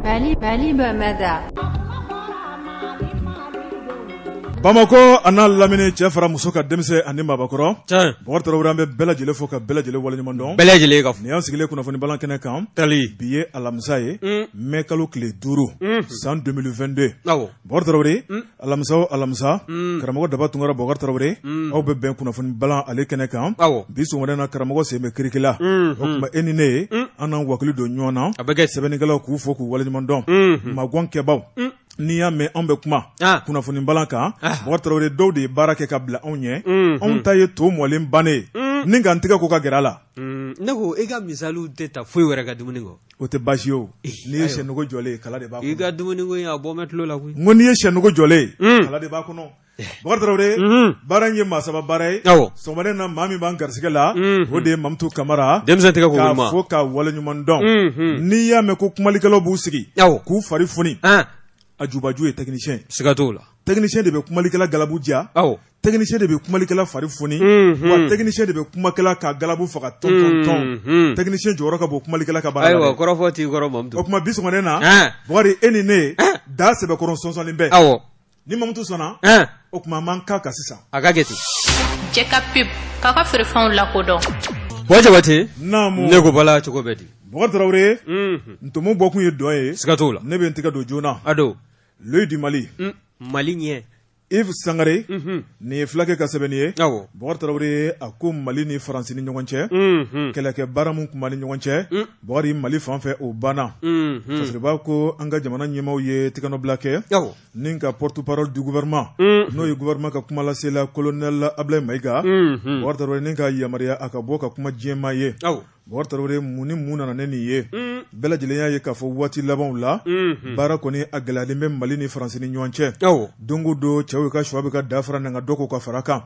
Mali Mali Bamada bamakɔ an'a lamini cɛ fara muso kan denmisɛn ani mabakɔrɔ bɔkari tarawele an bɛ bɛɛ lajɛlen fo ka bɛɛ lajɛlen waliɲumandɔn bɛɛ lajɛlen ka fo nin y'an sigilen kunnafoni bala kɛnɛ kan tali bi ye alamisa ye mɛ kalo tile duuru san 2022 bɔkari alamisa o alamisa karamɔgɔ daba tunkara bɔkari tarawele aw bɛ bɛn kunnafoni bala ale kɛnɛ kan bi sɔgɔmada na karamɔgɔ sen bɛ kirikila o kuma e ni ne ye an n'an wakili don ɲɔgɔn na a bɛ kɛ sɛbɛnnikɛlaw k'u fo k'u waliɲumandɔn magankɛbaw n'i y'a mɛn anw bɛ kuma kunnafoni bala kan bɔkari tarawele dɔw de ye baara kɛ ka bila anw ɲɛ anw ta ye to mɔlen bannen ni k'an tɛgɛ ko ka gɛrɛ a la ne ko e ka misaliw tɛ taa foyi wɛrɛ ka dumuni kɔ O tɛ baasi ye n'i ye shɛ nogo jɔlen ye kala de b'a i ka dumuni ko in a bɔ mɛ tulo la koyi ko n'i ye shɛ nogo jɔlen ye kala de b'a kɔnɔ bɔkari tarawele baara in ye maa saba baara ye sɔgɔmada na maa min b'an garisɛgɛ la o de ye mamutu kamara denmisɛn tɛgɛ k'a fo k'a wale ɲuman dɔn n'i y'a mɛn ko kumalikɛlaw b'u sigi k'u fari foni a jubaju ye technicien siga t'o la technicien de bɛ kumalikɛla galabu diya technicien de bɛ kumalikɛla fari foni wa technicien de bɛ kumakɛla ka galabu faga tɔntɔn technicien jɔyɔrɔ ka bon kumalikɛla ka baara la o kuma bi sɔgɔmada na bɔkari e ni ne da sɛbɛkɔrɔ sɔsɔlen bɛ ni mamutu sɔnna o kuma man kan ka sisan a ka jate cɛ ka pe k'a ka feerefɛnw lakodɔn wa jabate ne ko bala cogo bɛ di bɔkari tarawele ntomo bɔkun ye dɔn ye siga t'o la ne bɛ n tɛgɛ don joona a don l'œil du mali mali ɲɛ yves sangare nin ye fulakɛ ka sɛbɛnni ye bɔkari tarawele a ko mali ni faransi ni ɲɔgɔn cɛ kɛlɛkɛ baara min tun b'a ni ɲɔgɔn cɛ bɔkari mali fan fɛ o banna fasiri b'a ko an ka jamana ɲɛmaw ye tɛgɛnɔbila kɛ ni ka porte-parole du gouvernement n'o ye gouvernement ka kumalasela colonel ablaye maiga bɔkari tarawele ni ka yamaruya a ka bɔ ka kuma jama ye Tarawele mun ni mun nana ni nin ye bɛɛ lajɛlen y'a ye k'a fɔ waati labanw la baara kɔni a gɛlɛyalen bɛ mali ni faransi ni ɲɔgɔn cɛ don o don cɛw ka shɔ bɛ ka dafara n ka dɔw ko ka fara kan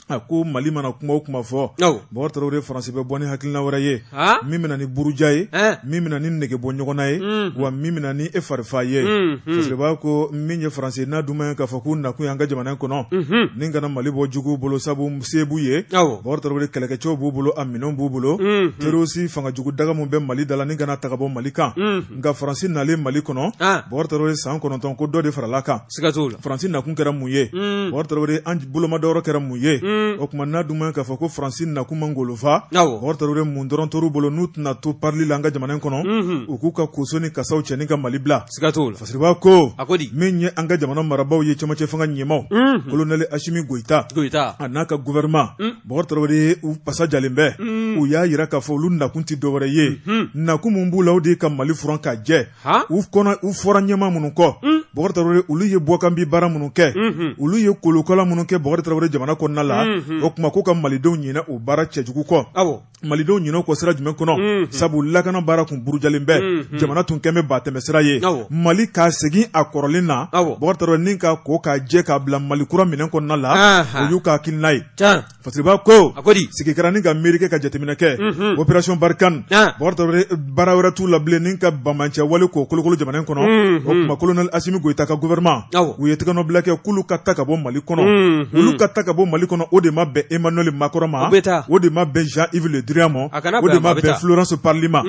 a ko mali mana kuma o kuma fɔ bɔkari tarawele faransi bɛ bɔ ni hakilina wɛrɛ ye min bɛna ni buruja ye min bɛna ni nege bɔ ɲɔgɔn na ye wa min bɛna ni e farifa ye fasiri b'a ko min ye faransi n'a dun ma ye k'a fɔ k'u nakun y'an ka jamana kɔnɔ ni ka na mali bɔ jugu bolo sabu se b'u ye bɔkari tarawele kɛlɛkɛcɛw b'u bolo a minɛn b'u bolo terroriste fanga jugu daga min bɛ mali da la ni ka na taga bɔ mali kan nka faransi nalen mali kɔnɔ bɔkari tarawele san kɔnɔntɔn ko dɔ de farala kan faransi nakun kɛra mun ye bɔkari tarawele an bolomadɔyɔrɔ kɛra mun ye o kuma n'a dun ma ye k'a fɔ ko faransi nakun m'an golo fa bɔkari tarawele mun dɔrɔn tor'u bolo n'u tɛna to parli la an ka jamana kɔnɔ u k'u ka koso ni kasaw cɛ ka mali bila siga t'o la fasiriba ko a ko di min ye an ka jamana marabaaw ye cɛmancɛ fanga ɲɛmaaw unhun kolonɛli asimi goyita a n'a ka gouvernement Mm. bɔkari tarawele u pasa jalen bɛ Mm. u y'a yira k'a fɔ olu nakun tɛ dɔwɛrɛ ye Mhm. nakun min b'u la o de ye ka mali furan ka jɛ ha u kɔnɔ u fɔra ɲɛmaa minnu kɔ Mm. bɔkari tarawele olu ye bɔkanbi baara minnu kɛ Mhm. olu ye kolokala minnu kɛ bɔkari tarawele jamana kɔnɔna la Mhm. o kuma ko ka malidenw ɲinɛ o baara cɛjugu kɔ awɔ malidenw ɲinɛ o kɔ sira jumɛn kɔnɔ sabu lakana baara tun burujalen bɛ jamana tun kɛlen bɛ ba tɛmɛsira ye mali ka segin a kɔrɔlen na bɔkari tarawele ni k'a ko k'a jɛ k'a bila mali kura minɛn kɔnɔna la o y'u ka hakilina ye fasiriba ko a ko di sigi kɛra ni ka miiri kɛ ka jateminɛ kɛ opération barikani baara wɛrɛ t'u la bilen ni ka banbaanci wale k'o kolokolo jamana in kɔnɔ o kuma kolonɛli Asimi Goyita ka gouvernement u ye tɛgɛnɔbila kɛ k'olu ka ta ka bɔ Mali kɔnɔ olu ka ta ka bɔ Mali kɔnɔ o de ma bɛn Emmanuel Macron ma o de ma bɛn Jean Yves Le Drian ma o de ma bɛn Florence Parly ma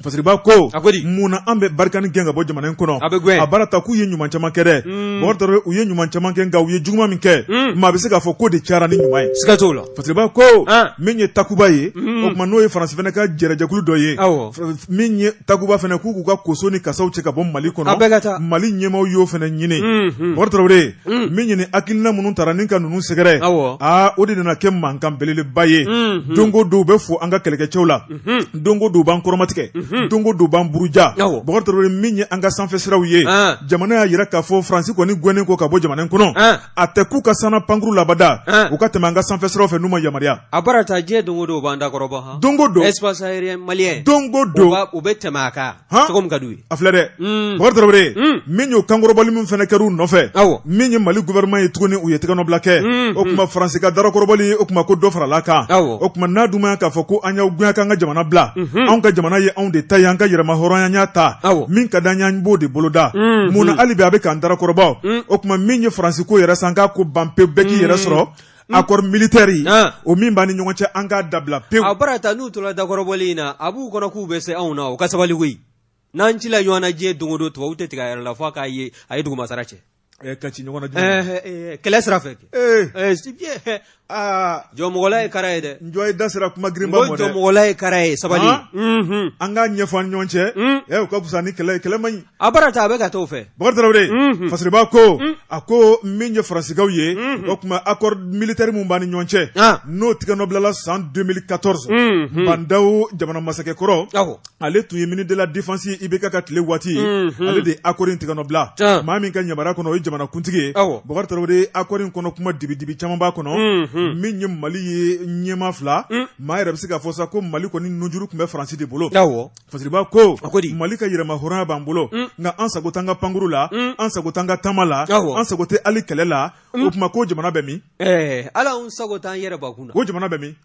Fasiriba ko mun na an bɛ barikani gɛn ka bɔ jamana in kɔnɔ a baara ta k'u ye ɲuman caman kɛ dɛ Bubakari Traore u ye ɲuman caman kɛ nka u ye juguman min kɛ maa bɛ se k'a fɔ k'o de cayara ni ɲuman ye siga t'o la. Fasiriba ko min ye takuba ye o kuma n'o ye faransi fana ka jɛrɛjɛkulu dɔ ye min ye takuba fana k'u k'u ka koso ni kasaw cɛ ka bɔ mali kɔnɔ bɛ ka taa mali ɲɛmaw y'o fana ɲini bɔkari tarawele min ɲini hakilina minnu taara ni ka ninnu sɛgɛrɛ aa o de nana kɛ mankan belebeleba ye don o don u bɛ fɔ an ka kɛlɛkɛcɛw la don o don u b'an kɔrɔmatigɛ don o don u b'an buruja min ye an ka sanfɛ siraw ye jamana y'a yira k'a fɔ faransi kɔni gɛnnen kɔ ka bɔ jamana kɔnɔ a tɛ k'u ka sanna pankuru labada u ka tɛmɛ an ka sanfɛ sira fɛ n'u ma yamaruya a bara ta diɲɛ don o don u b'an dakɔrɔbɔ don o don espace aérien malien don o don u bɛ tɛmɛ a kan cogo min ka d'u ye a filɛ dɛ bɔkari tarawele min y'o kankɔrɔbɔli min fana kɛra u nɔfɛ min ye mali gouvernement ye tuguni u ye tɛgɛnɔbila kɛ o kuma faransi ka darakɔrɔbɔli o kuma ko dɔ farala kan o kuma n'a dun m'a ye k'a fɔ ko an y'aw gɛn ka an ka jamana bila anw ka jamana ye anw de ta ye an ka yɛrɛmahɔrɔnya an y'a ta min ka d'an ye an b'o de boloda mun na hali bi a bɛ k'an darakɔrɔbɔ o kuma min ye faransi ko yɛrɛ san k'a ko ban pewu bɛɛ k'i yɛrɛ sɔrɔ accord militaire in o min b'an ni ɲɔgɔn cɛ an k'a dabila pewu a bara ta n'u tora dakɔrɔbɔli in na a b'u kɔnɔ k'u bɛ se anw na o ka sabali koyi n'an cila ɲɔgɔn na diɲɛ don o don tubabu tɛ tigɛ a yɛrɛ la fo k'a ye a ye dugumasara cɛ ka ci ɲɔgɔn na kɛlɛ sira fɛ aa jɔmɔgɔla ye kara ye dɛ njɔ ye da sera kuma girinba ma dɛ jɔmɔgɔla ye kara ye sabali mhm. an k'a ɲɛfɔ an ni ɲɔgɔn cɛ mm. ɛ o ka fisa ni kɛlɛ ye kɛlɛ man ɲi a bara ta a bɛ ka t'o fɛ bakari tarawele mhm. fasiriba ko mm. a ko min ye faransikaw ye mhm. o kuma accord militaire min b'an ni ɲɔgɔn cɛ ah. n'o tɛgɛnɔbilala san 2014 bandaw jamana masakɛ kɔrɔ ale tun ye ministre de la défense ye IBK ka tile waati ale de ye akɔri in tigɛnɔbila maa min ka yamaruya kɔnɔ o ye jamanakuntigi ye bakari tarawele akɔri in kɔnɔ kuma dibidibi caman b'a kɔnɔ min ye mali ye ɲɛma fila maa yɛrɛ bɛ se k'a fɔ sa ko mali kɔni nunjuru tun bɛ faransi de bolo fasiriba ko mali ka yɛrɛmahɔrɔnya b'an bolo nka an sago t'an ka pankuru la an sago t'an ka taama la an sago tɛ ali kɛlɛ la o tuma ko jamana bɛ min ala an sago t'an yɛrɛ kun na ko jamana bɛ min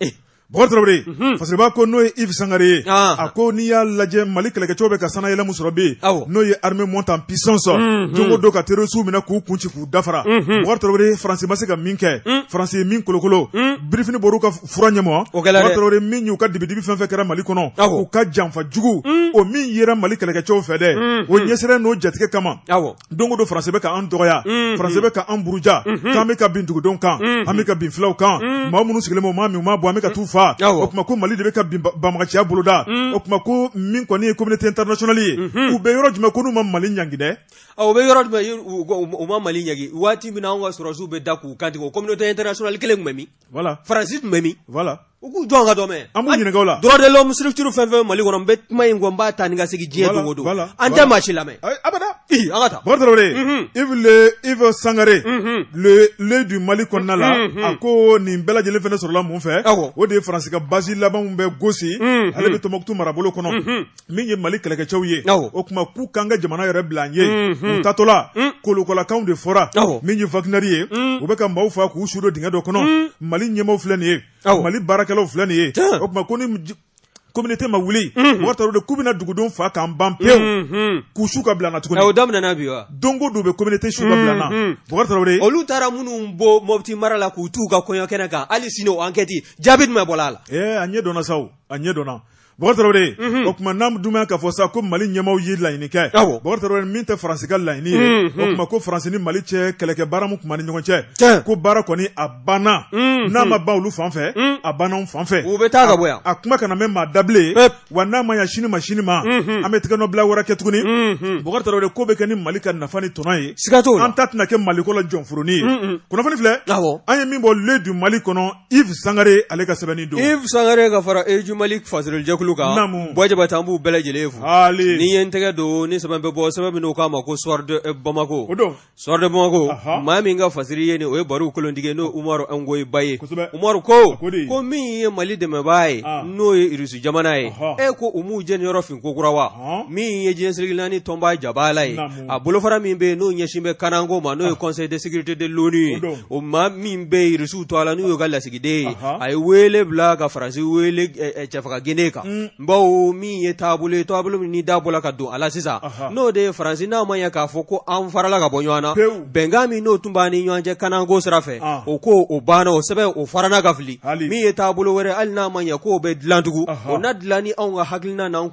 Bakari Tarawele Fasiriba ko n'o ye Yves Sangare ye, an, a ko n'i y'a lajɛ Mali kɛlɛkɛcɛw bɛ ka sannayɛlɛ min sɔrɔ bi, awɔ, n'o ye armée montée en puissance unhun, don o don ka terroristes minɛ k'u kun ci k'u dafara, unhun, Bakari Tarawele France ma se ka min kɛ, un, France ye min kolokolo, un, birifini bɔr'u ka fura ɲɛma, o kɛra dɛ, Bakari Tarawele min y'u ka dibi-dibi fɛn o fɛn kɛra Mali kɔnɔ, awɔ, u ka janfa jugu, un, o min yera Mali kɛlɛkɛcɛw fɛ dɛ, unhun, o ɲɛsiranya n'o jatigɛ kama, awɔ don o don faransi bɛ ka an dɔgɔya faransi bɛ ka an buruja k'an bɛ ka bin dugudenw kan an bɛ ka bin fulaw kan maa minnu sigilen bɛ maa min ma bɔ an bɛ ka t'u faa o tuma ko mali de bɛ ka banbaganciya boloda o tuma ko min kɔni ye communauté internationale ye u bɛ yɔrɔ jumɛn ko n'u ma mali ɲangi dɛ u bɛ yɔrɔ jumɛn u ma mali ɲangi waati min na an ka sɔrɔsiw bɛ da k'u kantigɛ o communauté internationale kelen tun bɛ min faransi tun bɛ min u k'u jɔ an ka dɔ mɛ an b'u ɲininka o la droit de l'homme structure fɛn o fɛn mali kɔnɔ n bɛ kuma in n b'a ta ni ka segin diɲɛ don o don an tɛ maa si lamɛn abada an ka taa yves sangare l'œil du mali kɔnɔna la a ko nin bɛɛ lajɛlen fana sɔrɔla mun fɛ o de ye faransi ka basi laban min bɛ gosi ale bɛ tɔnbukutu marabolo kɔnɔ min ye mali kɛlɛkɛcɛw ye o tuma k'u k'an ka jamana yɛrɛ bila an ye u taatɔla kolokolokanw de fɔra min ye wagner ye u bɛ ka maaw faa k'u su don dingɛ dɔ kɔnɔ mali ɲɛmaaw filɛ nin ye mali baarakɛlaw filɛ nin ye o tuma ko ni communauté ma wuli bakari tarawele k'u bɛna dugudenw fa k'an ban pewu k'u su ka bila an na tuguni o daminɛna bi wa don o don u bɛ communauté su ka bila an na olu taara minnu bɔ mɔti mara la k'u t'u ka kɔɲɔ kɛnɛ kan hali sini ankɛti jaabi jumɛn bɔra a la a ɲɛ dɔnna sa a ɲɛ dɔnna Bakari Tarawele, unhun, o tuma n'an dun bɛ yan k'a fɔ sa ko Mali ɲɛmaaw ye laɲini kɛ, awɔ, Bakari Tarawele min tɛ France ka laɲini ye, unhun, o tuma ko France ni Mali cɛ kɛlɛkɛ baara min tun b'an ni ɲɔgɔn cɛ, tiɲɛ, ko baara kɔni a banna, unhun, n'a ma ban olu fan fɛ, un, a banna anw fan fɛ, u bɛ taa ka bɔ yan, a kuma kana mɛn maa da bilen, pewu, wa n'a ma ɲɛ sini ma sini ma, unhun, an bɛ tɛgɛnɔbila wɛrɛ kɛ tuguni, unhun, Bakari Tarawele ko bɛ kɛ ni Mali ka nafa ni tɔnɔ ye, siga t'o la, an ta tɛna kɛ Maliko la jɔnforonin ye, un un, kunnafoni filɛ, awɔ, an ye min bɔ L'Œil du Mali kɔnɔ yves sangare ale ka sɛbɛnni don yves sangare ka fara œil du mali fasirili jɛkulu kan bɔjaba tan b'u bɛɛ lajɛlen fo n'i ye n tɛgɛ don ni sɛbɛn bɛ bɔ sɛbɛn min k'a ma ko soir de bamako soir de bamako maa min ka fasiri ye nin o ye baru kolotigi n'o umaru ngoyi ba ye umaru ko ko min ye mali dɛmɛbaa ye ah. n'o ye irisi jamana ye e ko u m'u jeniyɔrɔ fin kokura wa min ye diɲɛ seleke naani tɔnba jabala ye a bolofara min bɛ yen n'o ɲɛsin bɛ kanako ma n'o ye conseil de sécurité de l'ONU ye o maa min bɛ irisiw tɔgɔ la n'o y'u ka lasigiden ye a ye weele bila ka faransi weele cɛfaga kɛnɛ kan baw min ye taabolo ye taabolo min da bɔla ka don a la sisan n'o de ye faransi n'a ma ɲɛ k'a fɔ ko an farala ka bɔ ɲɔgɔn na bɛnkan min n'o tun b'a ni ɲɔgɔn cɛ kanako sira fɛ o ko o banna o sɛbɛn o farala ka fili min ye taabolo wɛrɛ hali n'a ma ɲɛ k'o bɛ dilan tugun o na dilan ni anw ka hakilina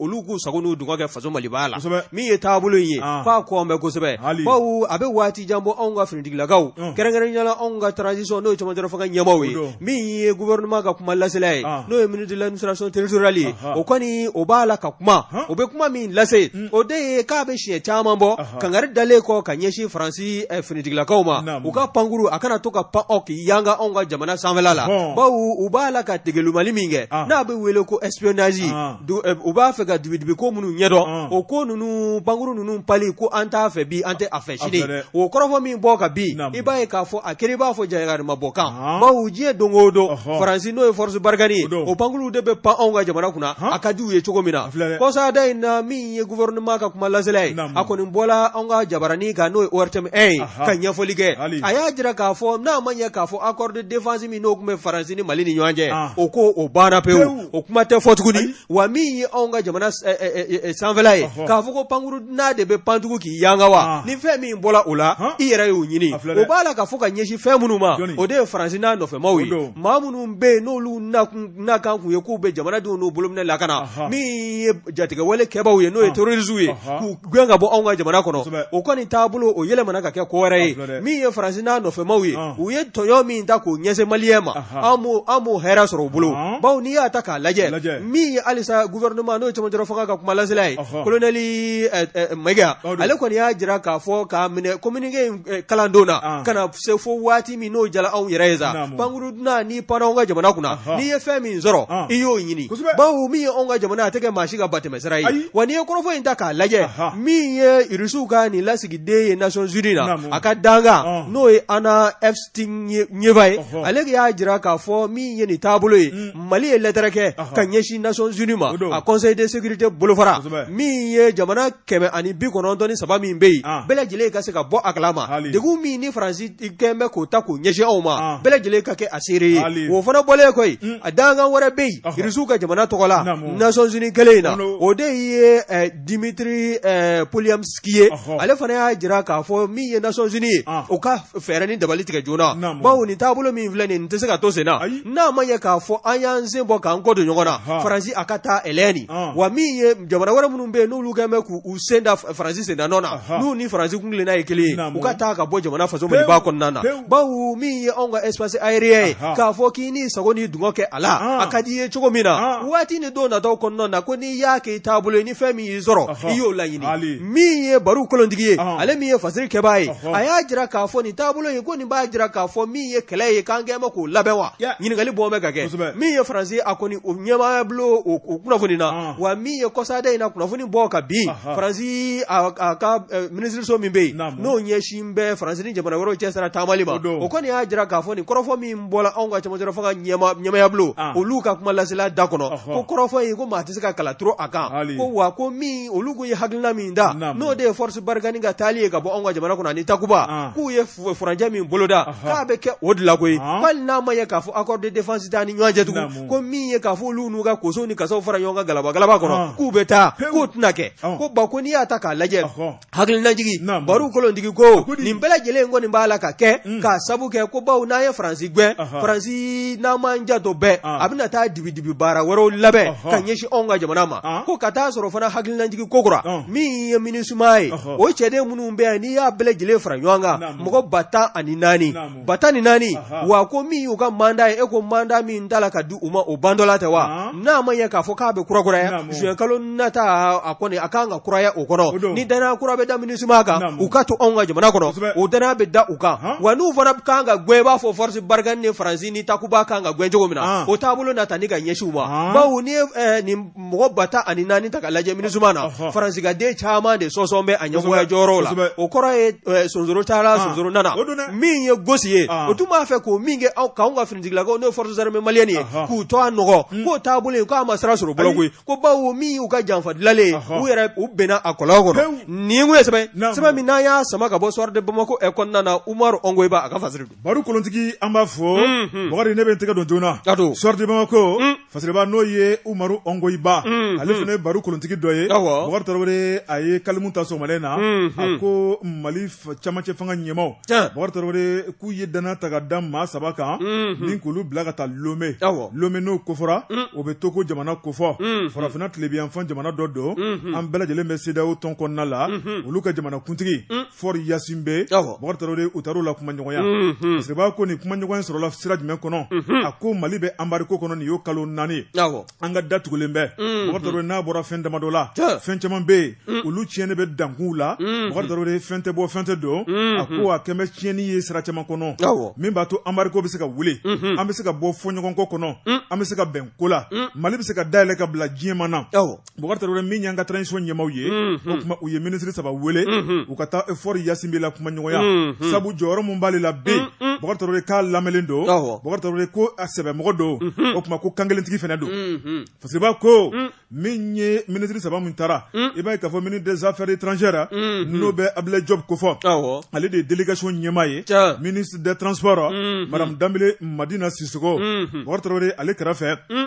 olu k'u sago n'u dungɔ kɛ faso maliba la min ye taabolo ye f'a kɔ bɛ kosɛbɛ baw a bɛ waati jan bɔ anw ka finitigilakaw kɛrɛnkɛrɛnnenya la anw ka transition n'o ye cɛmancɛrɔ fanga ɲɛmaaw ye min ye gouvernement ka kuma lasela ye n'o ye ministre de l'administration territoriale ye o kɔni o b'a la ka kuma o bɛ kuma min lase o de ye k'a bɛ siɲɛ caman bɔ kangari dalen kɔ ka ɲɛsin faransi eh, finitigilakaw ma u ka pankuru a kana to ka pan k'i yanga anw ka jamana sanfɛla baw u b'a la ka degelimalili min kɛ ah. n'a bɛ wele ko espionnage ah. eh, u b'a fɛ ka dibidibi ko minnu ɲɛdɔn ah. o ko ninnu pankuru ninnu pali ko an t'a fɛ bi an tɛ a fɛ sini o kɔrɔfɔ min bɔ ka bin i b'a ye k'a fɔ a kɛlen i b'a fɔ jayakarima bɔ kan baw diɲɛ don o don faransi n'o ye force barkhane ye o pankuru de bɛ pan anw ka jamana kunna a ka di u ye cogo min na kɔsada in na min ye gouvernement ka kuma lasela ye, naamu, a kɔni bɔra anw ka jabaranin kan n'o ye ORTM 1 ye, anhan, ka ɲɛfɔli kɛ, hali, a y'a jira k'a fɔ n'a ma ɲɛ k'a fɔ accord de défense min n'o tun bɛ Faransi ni Mali ni ɲɔgɔn cɛ, an, o ko o banna pewu, pewu, o kuma tɛ fɔ tuguni, ayi, wa min ye anw ka jamana ɛ ɛ ɛ ɛ sanfɛla ye, ɔhɔ, k'a fɔ ko pankuru n'a de bɛ pan tugun k'i yanga wa, an, ni fɛn min bɔra o la, han, i yɛrɛ y'o ɲini, a filɛ dɛ, o b'a la ka fɔ ka ɲɛsin fɛn minnu ma, jɔni, o de ye Faransi n'a nɔfɛmaw ye, o don, maa minnu bɛ yen n'olu nakun n'a kan kun ye k'u bɛ jamanadenw n'u bolo minɛn lakana, anhan, min ye jatigɛwale kɛbaaw ye n'o ye terroristes ye, anhan, k'u gɛn ka bɔ anw ka jamana kɔnɔ, kosɛbɛ, o kɔni taabolo o yɛlɛmana ka kɛ ko wɛrɛ ye, a filɛ dɛ, min ye Faransi n'a nɔfɛmaw ye, ɔn, u ye tɔɲɔn min ta k'o ɲɛsin maliyɛn ma, anhan, an m'o an m'o hɛrɛ sɔrɔ u bolo, ɔn, bawo n'i y'a ta k'a lajɛ, lajɛ, min ye halisa gouvernement n'o ye cɛmancɛla fanga ka kumalasela ye, ɔhɔ, colonel ɛ ɛ Maiga, o don, ale kɔni y'a jira k'a fɔ k'a minɛ communiqué in kalandon na, an, ka na se fo waati min n'o jala anw yɛrɛ ye sa naamu pankuru dunan n'i panna anw ka jamana kunna Anhan n'i ye fɛn min sɔrɔ an i y'o ɲini kosɛbɛ bawo min ye anw ka jamana ye a tɛ kɛ maa si ka batɛmɛsira ye ayi wa n'i ye kɔrɔfɔ in ta k'a lajɛ Anhan min ye irisiw ka nin lasigiden ye nations unies na naamu a ka dankan ɔn n'o ye anna evstigneeva ye ɔhɔ ale de y'a jira k'a fɔ min ye nin taabolo ye un mali ye lɛtɛrɛ kɛ ɔhɔ ka ɲɛsin nations unies ma o don a conseil de sécurité bolofara kosɛbɛ min ye jamana kɛmɛ ani bi kɔnɔntɔn ni saba min bɛ yen ah. bɛɛ lajɛlen ka se ka bɔ a kalama degun min ni faransi kɛn bɛ k'o ta k'o ɲɛsin anw ma ah. bɛɛ lajɛlen ka kɛ a seere ye o fana bɔlen koyi mm. a dankan wɛrɛ bɛ yen irisiw ka jamana tɔgɔ la nations unies kelen in na o de ye eh, dimitri eh, polianski ye ale fana y'a jira k'a fɔ min ye nations unies ye ah. o ka fɛɛrɛ ni dabali tigɛ joona bawo nin taabolo min filɛ nin tɛ se ka to sen na n'a ma ɲɛ k'a fɔ an y'an sen bɔ k'an kɔ don ɲɔgɔn na faransi a ka taa ɛlɛni wa min ye jamana wɛrɛ minnu bɛ n'olu kɛlen bɛ k'u u sen da Faransi sendanɔ na, anhan, n'u ni Faransi kun tilenna ye kelen ye, naamu, u ka taa ka bɔ jamana faso Maliba kɔnɔna na, pewu, bawo min ye anw ka espace aérien ye, anhan, k'a fɔ k'i n'i sago n'i dungɔ kɛ a la, an, a ka d'i ye cogo min na, an, waati ni don nataw kɔnɔna na ko n'i y'a kɛ i taabolo ye ni fɛn min y'i sɔrɔ, ɔhɔ, i y'o laɲini, haali, min ye baro kolontigi ye, ɔhɔ, ale min ye fasiri kɛbaa ye, ɔhɔ, a y'a jira k'a fɔ nin taabolo in ko nin b'a jira k'a fɔ min ye kɛlɛ ye k'an kɛlen bɛ k'o labɛn wa, ya, ɲininkali bɔn bɛ ka kɛ, kosɛbɛ, min ye Faransi ye a kɔni o ɲɛmaayabulon o o kunnafoni na, an wa min ye kɔsaada in na kunnafoni bɔ ka bin faransi ka minisiriso min bɛ yen n'o ɲɛsin bɛ faransi ni jamana wɛrɛw cɛ sira taamali ma o kɔni y'a jira k'a fɔ nin kɔrɔfɔ min bɔra anw ka cɛmancɛ fanga ɲɛmaayabulon olu ka kumalasela da kɔnɔ ko kɔrɔfɔ ye ko maa tɛ se ka kala turu a kan ko wa ko min olu ko ye hakilina min da n'o de ye force barkhane ka taali ye ka bɔ anw ka jamana kɔnɔ ni takuba k'u ye furancɛ min boloda k'a bɛ kɛ o de la koyi hali n'a ma ye k'a fɔ accord de défense t'an ni ɲɔgɔn cɛ tugun ko min ye k'a fɔ olu n'u ka kosow ni kasaw fara ɲɔgɔn kan galaba galaba kɔnɔ Ɔn. k'u bɛ taa Pewu. k'o tɛna kɛ Ɔn. ko ba ko n'i y'a ta k'a lajɛ Ɔhɔ. hakilinajigi Naamu. baro kolontigi ko Ko di- nin bɛɛ lajɛlen kɔni b'a la ka kɛ Mm. k'a sabu kɛ ko bawo n'an ye faransi gɛn Ɔhɔ. faransi n'an m'an janto bɛɛ Ɔn. a bɛna taa dibidibi baara wɛrɛw labɛn Ɔhɔ. ka ɲɛsin anw ka jamana ma Ɔn. ko ka taa sɔrɔ fana hakilinajigi kokura Ɔn. min ye minusma ye Ɔhɔ. o cɛden minnu bɛ yan n'i y'a bɛɛ lajɛlen fara ɲɔgɔn kan Naamu. mɔgɔ ba tan ani naani Naamu. ba tan ni naani wa ko min y'u ka mandat ye e ko mandat min tala ka di u ma o bantɔla tɛ wa n'a ma ɲɛ k'a fɔ k'a bɛ kurakuraya zuwɛn kalo nata a kɔni a kan ka kuraya o kɔnɔ ni dannaya kura bɛ da minusma kan u ka to anw ka jamana kɔnɔ o dannaya bɛ da u kan wa n'u fana kan ka gɛn i b'a fɔ force barkhane ni faransi ni takuba kan ka gɛn cogo min na o taabolo na ta ni ka ɲɛsin u ma bawo ni mɔgɔ ba tan ani naani ta k'a lajɛ minusma na faransigaden caman de sɔsɔn bɛ a ɲɛmɔgɔya jɔyɔrɔ la o kɔrɔ ye eh, sonsoro taara sonsoro nana min ye gosi ye o tun b'a fɛ k'o min kɛ aw k'anw ka finitigilakaw n'o forces armées maliennes ye k'u tɔɔ nɔgɔ hmm. k'o taabolo ye k'a ma sira sɔrɔ bolo koyi ko bawo min y'u ka janfa dilalen ye u yɛrɛ u binna a kɔlɔn kɔnɔ nin tun ye sɛbɛn sɛbɛn min n'an y'a sama ka bɔ soir de bamako ɛ kɔnɔna na umaru ɔngoyiba a ka fasiri don baro kolontigi an b'a fɔ hmm, hmm. bakari ne bɛ n tɛgɛ don joona soir de bamako fasiriba n'o ye umaru ɔngoyiba mm, ale mm. fana ye baro kolontigi dɔ ye bokari tarawele a ye kalimu ta sɔgɔmalen na mm, a ko mali camancɛ fanga ɲɛmaw bokari tarawele k'u ye dannaya ta ka da maa saba kan ni k'olu bila ka taa lome lome n'o kofɔra o bɛ to ko jamana kofɔ farafinna tilebiyanfan jamana dɔ don an bɛɛ lajɛlen bɛ sedaw tɔn kɔnɔna la olu ka jamana kuntigi fɔri yasinbɛ bokari tarawele u taar'o la kumaɲɔgɔnya fasiriba ko nin kumaɲɔgɔnya sɔrɔla sira jumɛn kɔnɔ a ko mali bɛ anbarigo kɔnɔ nin y'o kalo naani an ka da tugulen bɛ bokari tarawele n'a bɔra fɛn damadɔ la fɛn caman bɛ yen olu tiɲɛnen bɛ dankunw la bokari tarawele fɛn tɛ bɔ fɛn tɛ don a ko a kɛmɛ tiɲɛni ye sira caman kɔnɔ min b'a to anbarigo bɛ se ka wuli an bɛ se ka bɔ fɔɲɔgɔnkɔ kɔnɔ an bɛ se ka bɛn ko la mali bɛ se ka dayɛlɛ ka bila diɲɛma na Bokari Tarawele min y'an ka transition ɲɛmaaw ye, unhun, o tuma u ye ministre saba wele, unhun, u ka taa Fɔri Yasinbɛ la kumaɲɔgɔnya, unhun, sabu jɔyɔrɔ min b'ale la bi, un un, Bokari Tarawele k'a lamɛnen don, awɔ, Bokari Tarawele ko a sɛbɛmɔgɔ don, unhun, o tuma ko kankelentigi fana don, unhun, Fasiriba ko, un, min ye ministre saba min taara, un, i b'a ye k'a fɔ ministre des affaires étrangères unhun, n'o bɛ Abudulayi Jɔpu kofɔ, awɔ, ale de ye délégation ɲɛmaa ye, tiɲɛ, ministre des transports, unhun, madame Danbele Madina Sisoko, unhun, Bokari Tarawele ale kɛrɛfɛ, un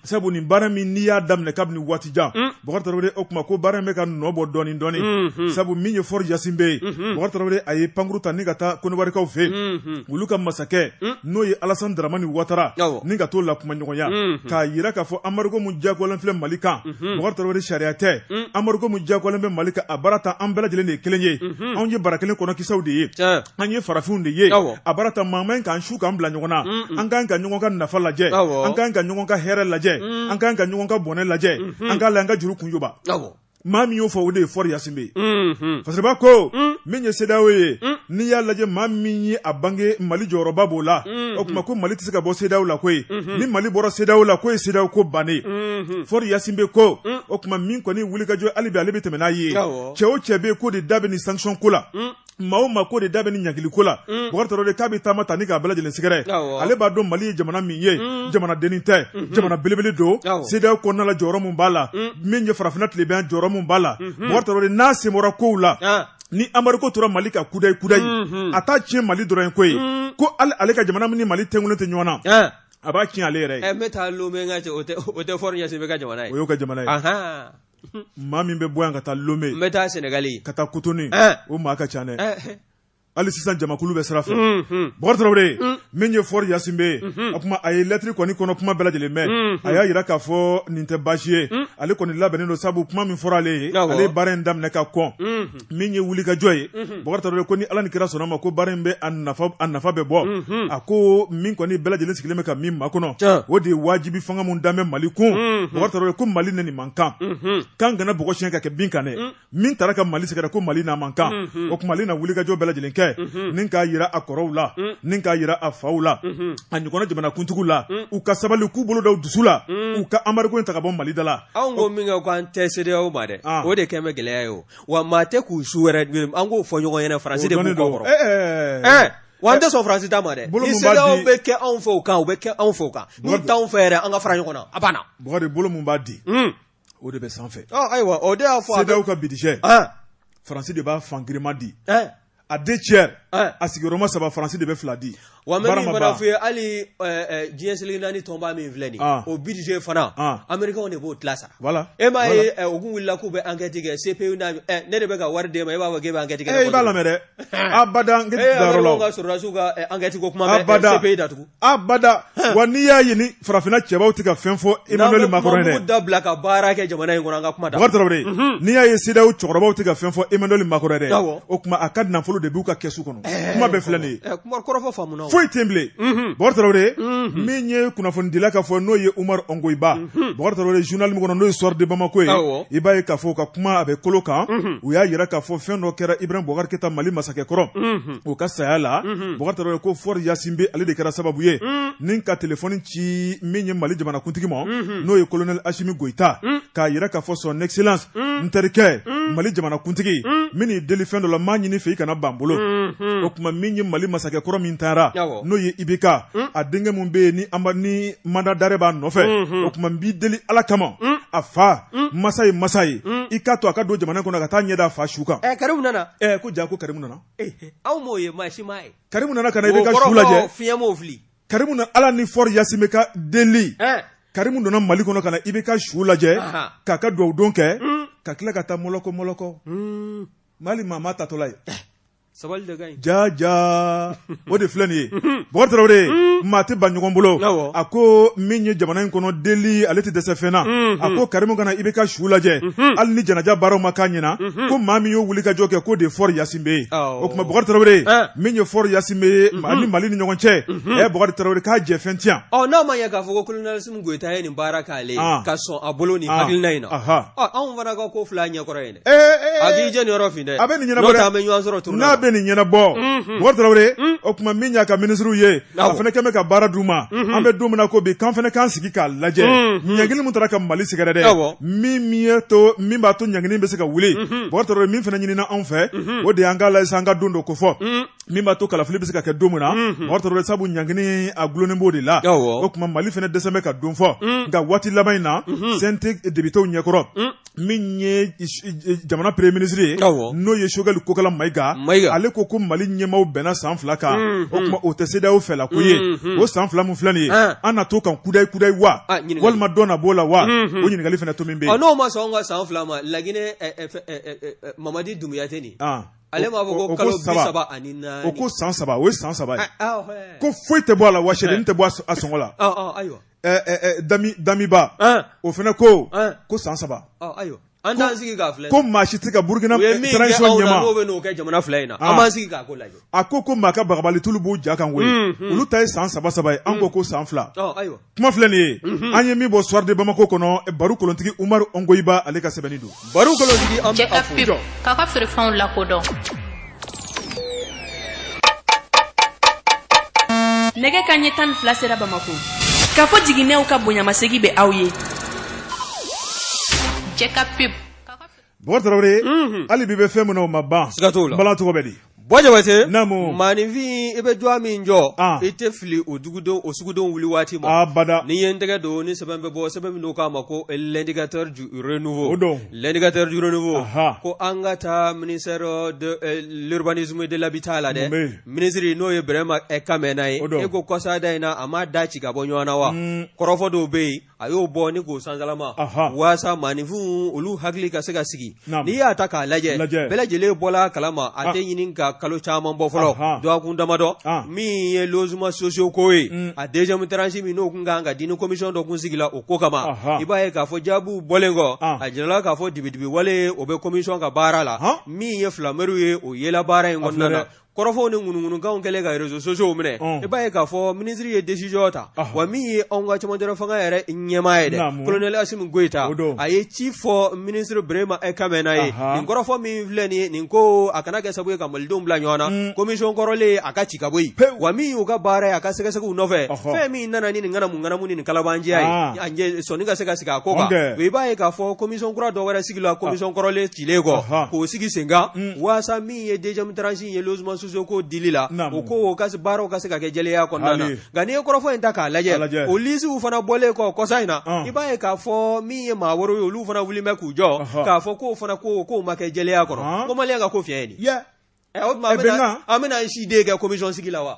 sabu nin baara min n'i y'a daminɛ kabini waatijan mm. bokari tarawele o tuma ko baara in bɛ ka nɔ bɔ dɔɔni dɔɔni mm-hmm. sabu min ye fɔri yasinbɛ ye mm-hmm. bokari tarawele a ye pankuru ta ni ka taa kɔnɔwarikaw fɛ mm-hmm. olu ka masakɛ mm. n'o ye alasan daramani watara ni ka t'o la kumaɲɔgɔnya k'a yira k'a fɔ anbarigo min diyagoyalen filɛ mali kan bokari tarawele sariya tɛ mm. anbarigo min diyagoyalen bɛ mali kan a baara ta an bɛɛ lajɛlen de ye kelen ye anw ye bara kelen kɔnɔ kisɛw de ye an ye farafinw de ye a bara ta maa man k'an su k'an bila ɲɔgɔn na an kan ka ɲɔgɔn ka nafa lajɛ an kan ka ɲɔgɔn ka hɛrɛ lajɛ an kan ka ɲɔgɔn ka bɔnɛ lajɛ an k'a la an ka juru kunjuba maa min y'o fɔ o de ye fɔri yasinbɛ ye fasiriba ko min ye sedaw ye n'i y'a lajɛ maa min ye a bange mali jɔyɔrɔba b'o la o tuma ko mali tɛ se ka bɔ sedaw la koyi ni mali bɔra sedaw la k'o ye sedaw ko bannen fɔri yasinbɛ ko o tuma min kɔni wulikajɔ hali bi ale bɛ tɛmɛ n'a ye cɛ o cɛ bɛ yen k'o de da bɛ nin sanction ko la maa o maa k'o de da bɛ nin ɲangili ko la mm. bokari tarawele k'a bɛ taama ta ni k'a bɛɛ lajɛlen sɛgɛrɛ ale b'a dɔn mali ye jamana min ye mm. jamana dennin tɛ mm-hmm. jamana belebele don sedaw kɔnɔna la jɔyɔrɔ min b'a la mm. min ye farafinna tilebin jɔyɔrɔ min b'a la bokari mm-hmm. tarawele n'a sen bɔra kow la ah. ni anbarigo tora mali kan kudayi kudayi mm-hmm. a t'a tiɲɛ mali dɔrɔn ye koyi ko ale ka jamana min ni mali tugulen tɛ ɲɔgɔn na ah. a b'a tiɲɛ ale yɛrɛ ye. ɛ eh, n bɛ taa lome n ka o tɛ o tɛ fɔri yasinbɛ ka jamana ye. o y'o ka jamana ye. maa min bɛ bɔ yan ka taa lome n bɛ taa sɛnɛgali ka taa kotonu o maa ka ca dɛ hali sisan jamakulu bɛ sira fɛ Bokar Traoré min ye Faure Gnassingbé ye o kuma a ye lɛtiri kɔni kɔnɔ kuma bɛɛ lajɛlen mɛn a y'a yira k'a fɔ nin tɛ baasi ye ale kɔni labɛnnen don sabu kuma min fɔra ale ye ale ye baara in daminɛ ka kɔn min ye wulikajɔ ye Bokar Traoré ko ni ala ni kira sɔnna ma ko baara in bɛ a nafa bɛ bɔ a ko min kɔni bɛɛ lajɛlen sigilen bɛ ka min makɔnɔ o de ye wajibi fanga min dan bɛ mali kun Bokar Traoré ko mali ni nin man kan k'an kana bɔgɔ siyɛn k'a kɛ bin kan dɛ min taara ka mali sɛgɛrɛ ko mali n'a man kan o kuma ale na wulikajɔ bɛɛ lajɛlen kɛ ni k'a yira a kɔrɔw la ni k'a yira a faw la a ɲɔgɔnna jamanakuntigiw la u ka sabali k'u bolo da u dusu la u ka embargo in ta ka bɔ mali da la anw ko min kɛ ko an tɛ CEDEAO ma dɛ o de kɛlen bɛ gɛlɛya ye o wa maa tɛ k'u su wɛrɛ an k'o fɔ ɲɔgɔn ɲɛna faransi de b'u kɔkɔrɔ wa an tɛ sɔn faransi ta ma dɛ ni CEDEAO bɛ kɛ anw fɛ o kan u bɛ kɛ anw fɛ o kan n'u t'anw fɛ yɛrɛ an ka fara ɲɔgɔn na a banna Bokar bolo min b'a di o de bɛ sanfɛ ayiwa o de y'a fɔ CEDEAO ka budget faransi de b'a fan girinman di a deux tiers a sigiyɔrɔma saba faransi de bɛ fila di wa n bɛ min fana fɔ i ye hali diɲɛ seleke naani tɔnba min filɛ nin o budget fana amerikɛnw de b'o tila sara e m'a ye u kun wulila k'u bɛ enquête kɛ CPI ne de bɛ ka wari d'e ma e b'a fɔ k'e bɛ enquête kɛ i b'a lamɛn dɛ a ba ka sɔrɔdasiw ka enquête kuma bɛ CPI da tugun abada wa n'i y'a ye ni farafinna cɛbaw tɛ ka fɛn fɔ Emmanuel Macron ye dɛ, n'an bɛ kuma dabila ka baara kɛ jamana in kɔnɔ an ka kuma da, Bokar Traoré, unhun, n'i y'a ye CEDEAO cɛkɔrɔbaw tɛ ka fɛn fɔ Emmanuel Macron ye dɛ, awɔ, o kuma a ka nafolo de b'u ka kɛsu kɔnɔ, ɛɛ, kuma bɛɛ filɛ nin ye, ɛɛ, kuma kɔrɔfɔ faamuna o, foyi tɛ yen bilen, unhun, Bokar Traoré, unhun, min ye kunnafonidila ka fɔ n'o ye Oumar Ongoïba, unhun, Bokar Traoré journal min kɔnɔ n'o ye Soir de Bamako ye, awɔ, i b'a ye k'a fɔ u ka kuma a bɛ kolo kan, unhun, u y'a yira k'a fɔ fɛn dɔ kɛra Ibrahim Boubacar Keita Mali masakɛ kɔrɔ, unhun o ka saya la Bokar Traoré ko Faure Gnassingbé ale de kɛra sababu ye ni ka telefɔni ci min ye mali jamanakuntigi ma n'o ye kolonɛli asimi goyita k'a yira k'a fɔ son excellence n terikɛ mali jamanakuntigi n b'i deli fɛn dɔ la n b'a ɲini i fɛ i kana ban n bolo o kuma min ye mali masakɛ kɔrɔ min taara n'o ye IBK a denkɛ min bɛ yen ni mandat d'arrêt b'a nɔfɛ o kuma n b'i deli ala kama a fa masa ye masa ye i k'a to a ka don jamana kɔnɔ ka taa ɲɛ da a fa su kan karimu nana ko jaa ko karimu nana anw m'o ye maa si m'a ye Karimu nana ka na IBK su lajɛ o kɔrɔ ko fiɲɛ m'o fili Karimu nana Ala ni Faure Gnassingbé ka deli Karimu donna Mali kɔnɔ ka na IBK su lajɛ k'a ka duwawu don kɛ ka tila ka taa mɔlɔkɔ mɔlɔkɔ Mali maa m'a taatɔla ye sabali de ka ɲi jaa jaa. o de filɛ nin ye Bɔkari Tarawele maa tɛ ban ɲɔgɔn bolo a ko min ye jamana in kɔnɔ deli ale tɛ dɛsɛ fɛn na a ko Karimu ka na IBK su lajɛ hali ni janaja baaraw ma k'a ɲɛna ko maa min y'o wulikajɔ kɛ k'o de ye Fɔri Ɲasingbe ye o tuma Bɔkari Tarawele min ye Fɔri Ɲasingbe ye ani Mali ni ɲɔgɔn cɛ ɛ Bɔkari Tarawele k'a jɛ fɛn tɛ yan ɔ n'a ma ɲɛ k'a fɔ ko kolonɛli Asimi Goyita ye nin baara k'ale ye ka sɔn a bolo nin hakilina in na ɔ anw fana ka ko filɛ a ɲɛkɔrɔ yen dɛ. a k'i jɛ nin yɔrɔ fin dɛ a bɛ nin ɲɛnabɔ n'o tɛ an bɛ ɲɔgɔn sɔrɔ turu la n'a bɛ nin ɲɛnabɔ Bɔkari Tarawele o tuma min y'a ka minisiriw ye a fana kɛn bɛ ka baara d'u ma an bɛ don min na ko bi k'an fana k'an sigi k'a lajɛ ɲangini min taara ka Mali sɛgɛrɛ dɛ min y'a to min b'a to ɲangini bɛ se ka wuli Bɔkari Tarawele min fana ɲinina anw fɛ o de y'an k'a lajɛ sa an ka don dɔ kofɔ min b'a to kalafili bɛ se ka kɛ don min na Bɔkari Tarawele sabu ɲangini a dulonnen b'o de la o tuma Mali fana dɛsɛlen bɛ ka don fɔ nka waati laban in na CNT depitew ɲɛkɔrɔ min ye jamana peremiye minisiri ye n'o ye Sogɛli Kokala Mayiga ale ko ko mali ɲɛmaaw bɛnna san fila kan mm-hmm. o tuma o tɛ CEDEAO fɛla ko ye mm-hmm. o san fila min filɛ nin ye ah. an na to kan kudayi kudayi wa ah, walima dɔ na b'o la wa mm-hmm. o ɲininkali fana to min bɛ yen n'o ma sɔn ka san fila ma laginɛ eh, eh, eh, Mamadi Dumbuya tɛ nin ah. ale b'a fɔ ko kalo bi saba ani naani o ko san saba o ye san saba ye ko foyi tɛ bɔ a la wa sɛdennin tɛ bɔ a sɔngɔ la ayiwa damiba o fana ko ko san saba ayiwa an t'an sigi ka filɛ ko maa si tɛ ka burukina transition ɲɛma n'o bɛ n'o kɛ jamana fila in na an b'an sigi k'a ko lajɛ a ko ko maa ka babali tulu b'u ja kan koyi olu ta ye san saba saba ye an ko ko san fila kuma filɛ nin ye an ye min bɔ Soir de Bamako kɔnɔ baro kolontigi Umaru Ongoyiba ale ka sɛbɛnni don baro kolontigi an bɛ a fo jɔ k'a ka feerefɛnw lakodɔn nɛgɛ ka ɲɛ tan ni fila sera bamako k'a fɔ jiginɛw ka bonyamasegi bɛ aw ye Jɛka pub Bɔkari Tarawele, unhun, hali bi i bɛ fɛn min na o ma ban, siga t'o la, bala tɔgɔ bɛ di Bɔ Jabatɛ naamu maaninfin i bɛ jɔ min jɔ i tɛ fili o dugudenw o sugudenw wuli waati ma bada ni ye n tɛgɛ don ni sɛbɛn bɛ bɔ sɛbɛn min k'a ma ko L'Indicateur du Renouveau o don L'Indicateur du Renouveau ko an ka taa ministère de l'urbanisme de l'habitat la dɛ minisiri n'o ye Berema ɛ Kamɛna ye e ko kɔsa da in na a ma da ci ka bɔ ɲɔgɔn na wa kɔrɔfɔ dɔw bɛ yen a y'o bɔ ni k'o sankalama walasa maaninfinw olu hakili ka se ka sigi n'i y'a ta k'a lajɛ bɛɛ lajɛlen bɔra kalama a tɛ ɲini ka kalo caman bɔ fɔlɔ dɔgɔkun damadɔ min ye logements sociaux ko ye mm. a deuxième tranche min n'o tun kan ka di ni komisɔn dɔ tun sigila o ko kama i b'a ye k'a fɔ jaabi bɔlen kɔ a jirala k'a fɔ dibidibi wale o bɛ komisɔn ka baara la min ye filamew ye o yela baara in kɔnɔna na kɔrɔfɔw ni ŋunuŋunukanw kɛlen ka réseaux sociaux minɛ ɔn. i b'a ye k'a fɔ minisiri ye décision ta Ɔhɔ. wa min ye anw ka cɛmancɛla fanga yɛrɛ ɲɛmaa ye dɛ Naamu. colonel Assimi Goïta O don. a ye ci fɔ minisiri Birahima Kamɛna ye Ahan. nin kɔrɔfɔ min filɛ nin ye nin ko a kana kɛ sabu ye ka malidenw bila ɲɔgɔn na Mm. commission kɔrɔlen a ka ci ka bɔ yen Pewu. wa min y'u ka baara ye a ka sɛgɛsɛgɛw nɔfɛ Ɔhɔ. fɛn min nana ni nin ŋanamu ŋanamu ni nin kalabanjɛya Ah. ye a ɲɛ- sɔnni ka se ka sigi a ko kan Ɔnkɛ. i b'a ye k'a fɔ commission kura dɔ wɛrɛ sigila commission kɔrɔlen cilen kɔ Ɔhɔ. k'o sigi sen kan Mm. waasa min min ye deuxième tranche in ye logement sociaux ko dili la, naamu, o ko o ka se baaraw ka se ka kɛ jɛlenya kɔnɔna na, hali, nka n'i ye kɔrɔfɔ in ta k'a lajɛ, K'a lajɛ. o lisiw fana bɔlen kɔ kɔsa in na, Ɔn. i b'a ye k'a fɔ min ye maa wɛrɛw ye olu fana wulilen bɛ k'u jɔ Ɔhɔ. k'a fɔ k'o fana ko k'o ma kɛ jɛlenya kɔnɔ Ɔn. ko maliyɛn ka ko fiɲɛ ye nin ye. Yɛ, Ɛ, o tuma an Eh, bɛna- bɛnkan. an bɛna an si de kɛ commission sigi la wa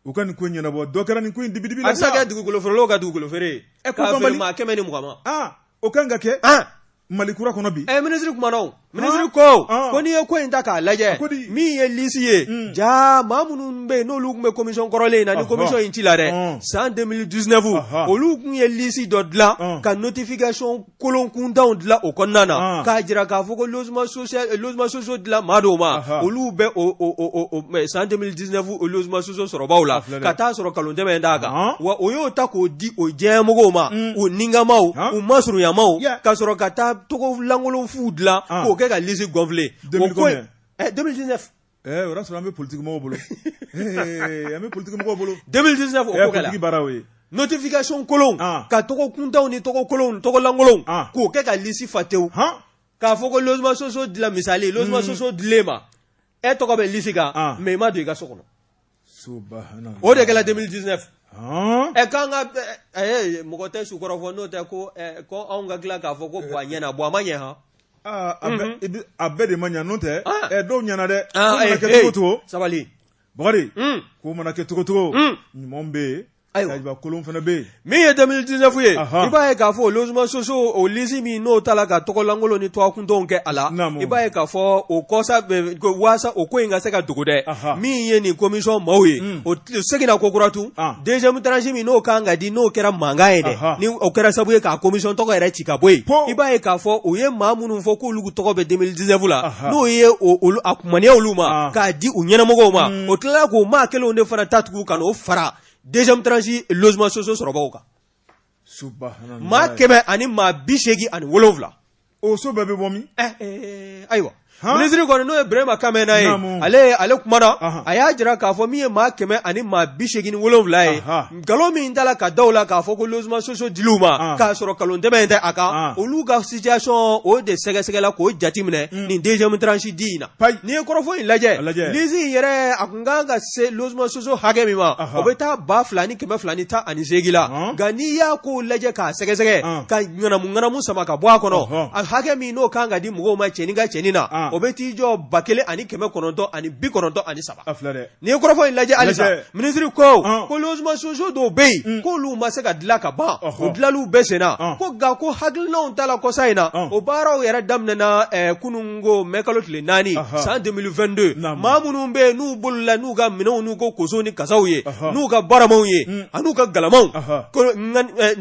u ka nin ko ɲɛnabɔ dɔ kɛra nin ko in dibidibi la a bɛ kɛ dugukolo feerelaw ka dugukolo feere ɛ ko banbali maa kɛmɛ ni mugan ma aa o kan ka kɛ aa Mali kura kɔnɔ bi ɛ minisiri kumana o minisiri ko ko n'i ye ko in ta k'a lajɛ min ye lisi ye hmm. ja maa minnu bɛ yen n'olu tun bɛ commission kɔrɔlen in na ni commission in cila dɛ san 2019 olu tun ye lisi dɔ dilan ka notification kolonkuntanw dilan o kɔnɔna na ah. k'a jira k'a fɔ ko logement social eh, logement sociaux dila maa dɔw ma olu bɛ o o o o san 2019 o logement sociaux sɔrɔbaaw la ka taa sɔrɔ kalonjɛmɛ d'a kan ah. wa o y'o ta k'o di o diyanyemɔgɔw ma mm. u nikanmaaw ah. u masurunyamaaw ka sɔrɔ ka taa tɔgɔ lankolon fuw dilan k'o kɛ ka lisi gonfler o ko 2019 Ɛɛ o y'a sɔrɔ an bɛ politique mɔgɔw bolo, ɛɛ an bɛ politique mɔgɔw bolo, 2019 o ko kɛra, politique baara y'o ye, notification kolon, an, ka tɔgɔ kuntanw ni tɔgɔ kolonw tɔgɔ lankolonw, an, k'o kɛ ka liste fa tewu, han, k'a fɔ ko logements sociaux dila misali, logements sociaux dil'e ma, e tɔgɔ bɛ liste kan, an, mais i ma don i ka so kɔnɔ subahana o de kɛra 2019 han ɛ k'an ka ɛ, ɛ, mɔgɔ tɛ su kɔrɔ fɔ n'o tɛ ko ɛ, ko anw ka tila k'a fɔ ko bon a ɲɛna bon a ma ɲɛ han aa a bɛ i bɛ- a bɛɛ de ma ɲa n'o tɛ Ah. ɛ dɔw ɲana dɛ ko Ah, mana eh, kɛ eh, cogo cogo sabali Bakari Mm. ko mana kɛ cogo cogo Mm. ɲuman bɛ yen Ayiwa kolon fana bɛ yen min ye 2019 ye i b'a ye k'a fɔ logement sociaux o lisi min n'o tala ka tɔgɔlankolon ni tɔgɔkuntanw kɛ a la i b'a ye k'a fɔ o kɔsa waasa o ko in ka se ka dogo dɛ min ye nin commission maaw ye o seginna ko kura tun deuxième tranche min n'o kan ka di n'o kɛra mankan ye dɛ ni o kɛra sababu ye ka commission tɔgɔ yɛrɛ ci ka bɔ yen i b'a ye k'a fɔ u ye maa minnu fɔ k'olu tɔgɔ bɛ 2019 la n'o ye a kunya olu ma k'a di u ɲɛnamɔgɔw ma o tilala k'o maa kelen de fana ta tugun ka o fara deuxième tranche logement sociaux sɔrɔbaw kan maa kɛmɛ ani maa bi seegin ani wolowula o so bɛɛ bɛ bɔ min eh, eh, eh, ayiwa minisiri kɔni n'o ye Berema Kamɛna ye ale ale kuma na a y'a jira k'a fɔ min ye maa kɛmɛ ani maa bi seegin wolonwula ye nkalon min dala ka da u la k'a fɔ ko logement sociaux dil'u ma k'a sɔrɔ kalon tɛmɛ in tɛ a kan olu ka situation o de sɛgɛsɛgɛla k'o jateminɛ hmm. nin deuxième tranche di in na n'i ye kɔrɔfɔ in lajɛ lisi in yɛrɛ N ka kan ka se logement sociaux hakɛ min ma o bɛ taa ba fila ni kɛmɛ fila ni tan ani seegin la nka n'i y'a ko lajɛ k'a sɛgɛsɛgɛ ka ŋanamu ŋanamu sama ka bɔ a kɔnɔ a hakɛ min n'o ka kan ka di mɔgɔw ma cɛnin ka cɛnin na o bɛ t'i jɔ ba kelen ani kɛmɛ kɔnɔntɔn ani bi kɔnɔntɔn ani saba n'i ye kɔrɔfɔ in lajɛ hali sisan minisiri ko ko logement sociaux dɔw bɛ yen k'olu ma se ka dilan ka ban o dilanniw bɛ senna ko nka ko hakilinaw ta la kɔsa in na o baaraw yɛrɛ daminɛna kunun n ko mɛ kalo tile naani san 2022 maa minnu bɛ yen n'u bolila n'u ka minɛnw n'u ka kosow ni kasaw ye n'u ka baramaw ye an'u ka galamaw